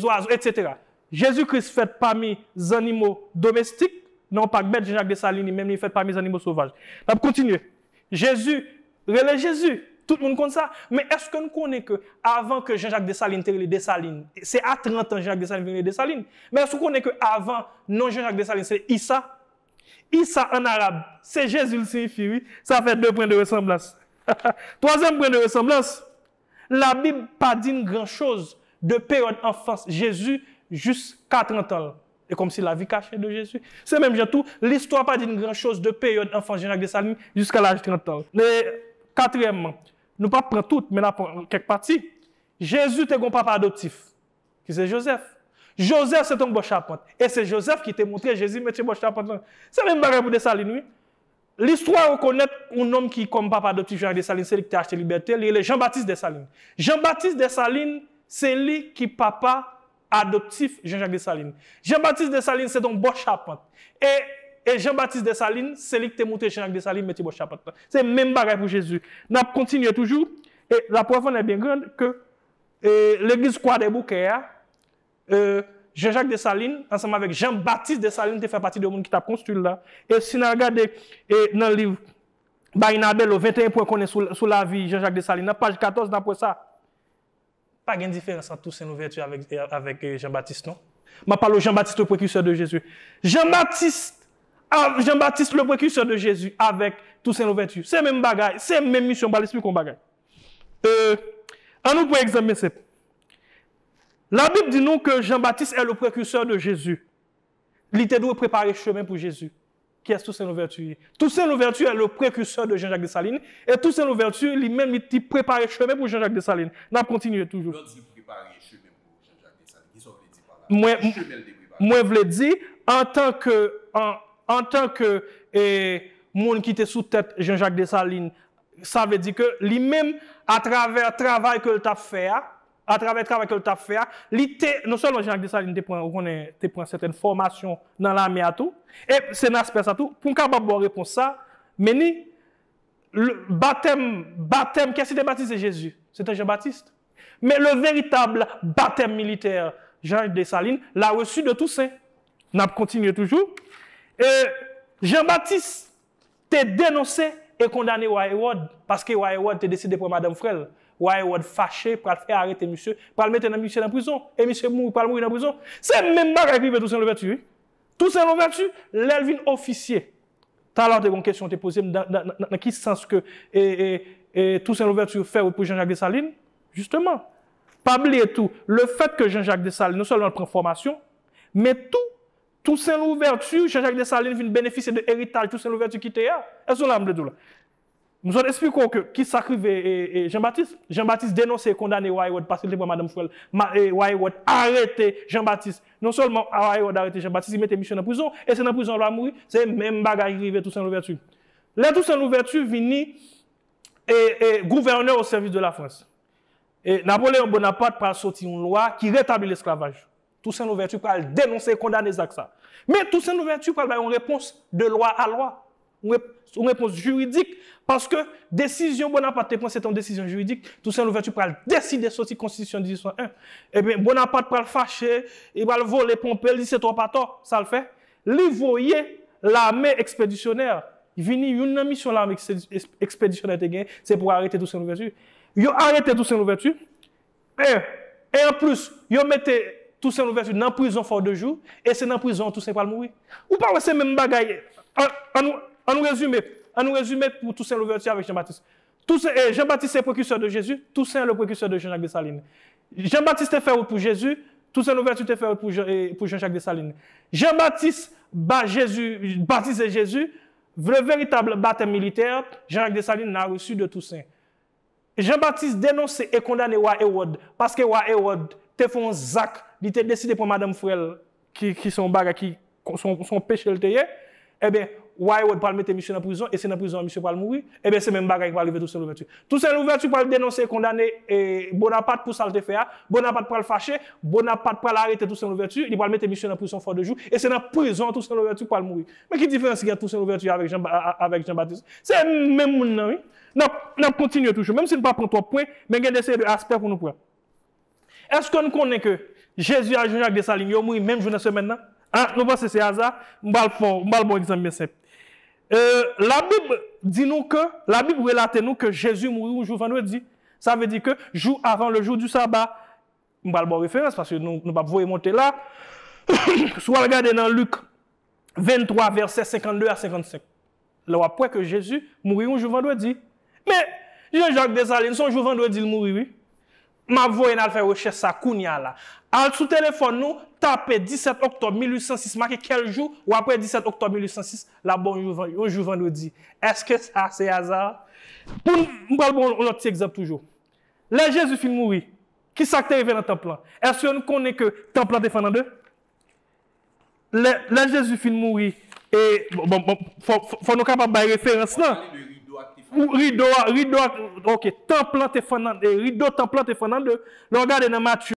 zwazo, etsetera. Jezi Kris fèt pami zannimo domestik, nan yon pak bèt, Jan Jak Desalin li menm li fèt pami zannimo sovaj. N ap kontinye. Jezi! Rele Jezi! Tout moun konn sa. Men èske n konnen ke avan ke Jean Jacques Dessalines te rele Desalin, se a 30 an Jean Jacques Dessalines vin rele Desalin. Men èske ou konnen ke avan non Jean Jacques Dessalines se Issa? Issa an arab, se Jezi l siyifi wi. Sa fè 2 pwen de resanblans. Twazyèm pwen de resanblans, Labib pa di n gran choz de peryòd anfans Jezi jis ka trantan l. E kòm si lavi kache de Jezi. Se menm jan tou, listwa pa di n gran choz de peryòd anfans Jan Jak Desalin jiska laj trantan l. E, katriyèmman, nou pap pran tout, men n ap pran kèk pati, Jezi te gen yon papa adoptif, ki se Jozèf. Jozèf se te yon bò chapant, e se Jozèf ki te montre Jezi metye bò chapant lan. Se menm bagay pou Desalin wi. Listwa rekonèt yon nonm ki, kòm papa adoptif Jean Jacques Dessalines, se li ki te achte libète, li rele Jean Baptiste Dessalines. Jean Baptiste Dessalines se li ki papa adoptif Jean Jacques Dessalines. Jean Baptiste Dessalines se te yon bòs chapant. E e Jean Baptiste Dessalines se li ki te moutre Jean Jacques Dessalines metye bòs chapant lan. Se menm bagay pou Jezi. N ap kontinye toujou, e laprèv an è byen grand ke e legliz Kwadèboukè a, Jean-Jacques Dessalines ansanm avèk Jean-Baptiste Dessalines te fè pati de moun ki t ap konstwi l la. E si n al gade nan liv Bayyinah Bello, 21 pwen konnen sou lavi Jean-Jacques Dessalines nan, paj 14 n ap wè sa. Pa gen diferans ant Toussaint Louverture avèk Jean-Baptiste non. M ap pale w Jean-Baptiste le Précurseur de Jésus. Jean-Baptiste Jean-Baptiste le Précurseur de Jésus avèk Toussaint Louverture se menm bagay, se menm misyon. M pral esplike w yon bagay. Annou pran egzanp byen senp. La Bib di nou ke Jean Baptiste est le precurseur de Jésus. Li te dwe prepare chemen pou Jezi. Kiyès Toussaint Louverture ye? Toussaint Louverture est le precurseur de Jean-Jacques Dessalines et Toussaint Louverture li menm li te prepare chemen pou Jean-Jacques Dessalines. N ap kontinye toujou. Lè w di l prepare chemen pou Jean-Jacques Dessalines, kisa w vle di pa la? Ki chemen l te prepare? Mwen vle di, antan ke, antan ke e moun ki te sou tèt Jean-Jacques Dessalines, sa vle di ke li menm atravè travay ke l t ap fè a, Atravè travay ke l t ap fè a, li te, non sèlman Jean-Jacques Dessalines te pran, ou konnen, te pran sètèn fòmasyon nan lame a tou, e se nan aspè sa tou, pou m kapab ba w repons sa, Menni, le, batèm, batèm, kè s ki te batize Jezi? Se te Jean Baptiste. Men le veritab batèm militè Jean Dessalines l a reçu de Toussaint. N ap kontinye toujou. E Jean Baptiste. te denonse e kondane Wa Ewòd paske Wa Ewòd te deside pran madanm frè l. Wa Ewòd fache, pral fè arete misye, pral mete nan misye nan prizon e misye mouri, pral mouri nan prizon. Se menm bagay ki rive Tousen Louvèti wi. Tousen Louvèti, lè l vin ofisye, talè w te gen yon kesyon w te poze m nan ki sans ke Tousen Louvèti fè wout pou Jan Jak Desalin. Jisteman, pa bliye tou lefèt ke Jan Jak Desalin non sèlman l pran fòmasyon men tou Toussaint Louverture, Jean Jacques Dessalines vin benefisye de eritaj Toussaint Louverture kite a. Èske ou la m vle di w la? M sot esplike w ke ki sa k rive Jean Baptiste. Jean Baptiste denonse e kondane Wa Hérode paske l te pran madanm frè l. Wa Hérode arete Jean Baptiste. Non sèlman Wa Hérode arete Jean Baptiste, li mete misye nan prizon e se nan prizon l va mouri. Se menm bagay ki rive Toussaint Louverture. Lè Toussaint Louverture vini gouvènè o sèvis de la Frans, Napoléon Bonaparte pral soti yon lwa ki retabli lesklavaj. Toussaint Louverture pral denonse e kondane zak sa. Men Toussaint Louverture pral bay yon repons de lwa a lwa, yon repons jiridik, paske desizyon Bonaparte te pran se te yon desizyon jiridik, Toussaint Louverture pral deside soti konstitisyon 1801. Ebyen Bonaparte pral fache, li pral vole ponpe, li di se twòp atò, sa l fè? Li voye lame ekspedisyonè vini, youn nan misyon lame ekspedisyonè te genyen, se pou arete Toussaint Louverture. Yo arete Toussaint Louverture, E, e anplis, yo mete Tousen Louvèti nan prizon Fò de Jou, e se nan prizon an Tousen pral mouri. Ou pa wè se menm bagay, an, an nou, an nou rezime, an nou rezime pou Tousen Louvèti avèk Jan Batis. Tousen, e, Jan Batis se prekisè de Jezi, Tousen le prekisè de Jan Jak Desalin. Jan Batis te fè wout pou Jezi, Tousen Louvèti te fè wout pou Jan, e, pou Jan Jak Desalin. Jan Batis ba Jezi, batize Jezi, le veritab batèm militè, Jan Jak Desalin l'a reçu de Tousen. Jan Batis denonse e kondane wa Ewòd paske wa Ewòd te fè yon zak li te deside pran madanm frè l ki se yon bagay ki se yon peche l te ye enben wa Ewòd pral mete misye nan prizon e se nan prizon an misye pral mouri enben se menm bagay ki pral rive Tousen Louvèti. Tousen Louvèti pral denonse e kondane Bonapat pou sa l te fè a Bonapat pral fache Bonapat pral arete Tousen Louvèti li pral mete misye nan prizon Fò de Jou e se nan prizon an Tousen Louvèti pral mouri. Men ki diferans ki gen ant Tousen Louvèti avèk Jan Batis se menm moun nan wi. N ap kontinye toujou, menm si n pa pran twòp pwen, men gen de seri de aspè pou nou pran. Èske n konnen ke Jezi ak Jan-Jak Desalin yo mouri menm jou nan semèn nan? A, nou panse se aza? M pral fè w, m pral ba w egzanp byen senp. E, Labib di nou ke, Labib relate nou ke Jezi mouri yon jou vandredi. Sa vle di ke jou avan le jou di saba. M pral ba w referans paske nou pap voye monte la. Si w al gade nan Lik 23 vèsè 52 a 55, la w ap wè ke Jezi mouri yon jou vandredi. Men, Jean Jacques Dessalines, se yon jou vandredi l mouri wi. M ap voye n al fè rechèch sa kounya la. Al sou telefòn nou, tape 17 oktòb 1806, make kèl jou, w ap wè 17 oktòb 1806 la ap ba w yon jou vandredi. Èske sa se aza? M pral ba w yon lòt ti egzanp toujou. Lè Jezi fin mouri, Ki sa k te rive nan tanp lan? Èske n konnen ke tanp lan te fè nan de? Lè, lè Jezi fin mouri e, bon, bon, fò, fò nou kapab bay referans lan. W'ap pale de rido a k te fè nan de. Rido a, rido a, ok, tanp lan te fè nan de, rido tanp lan te fè nan de. Lè w gade nan Matye.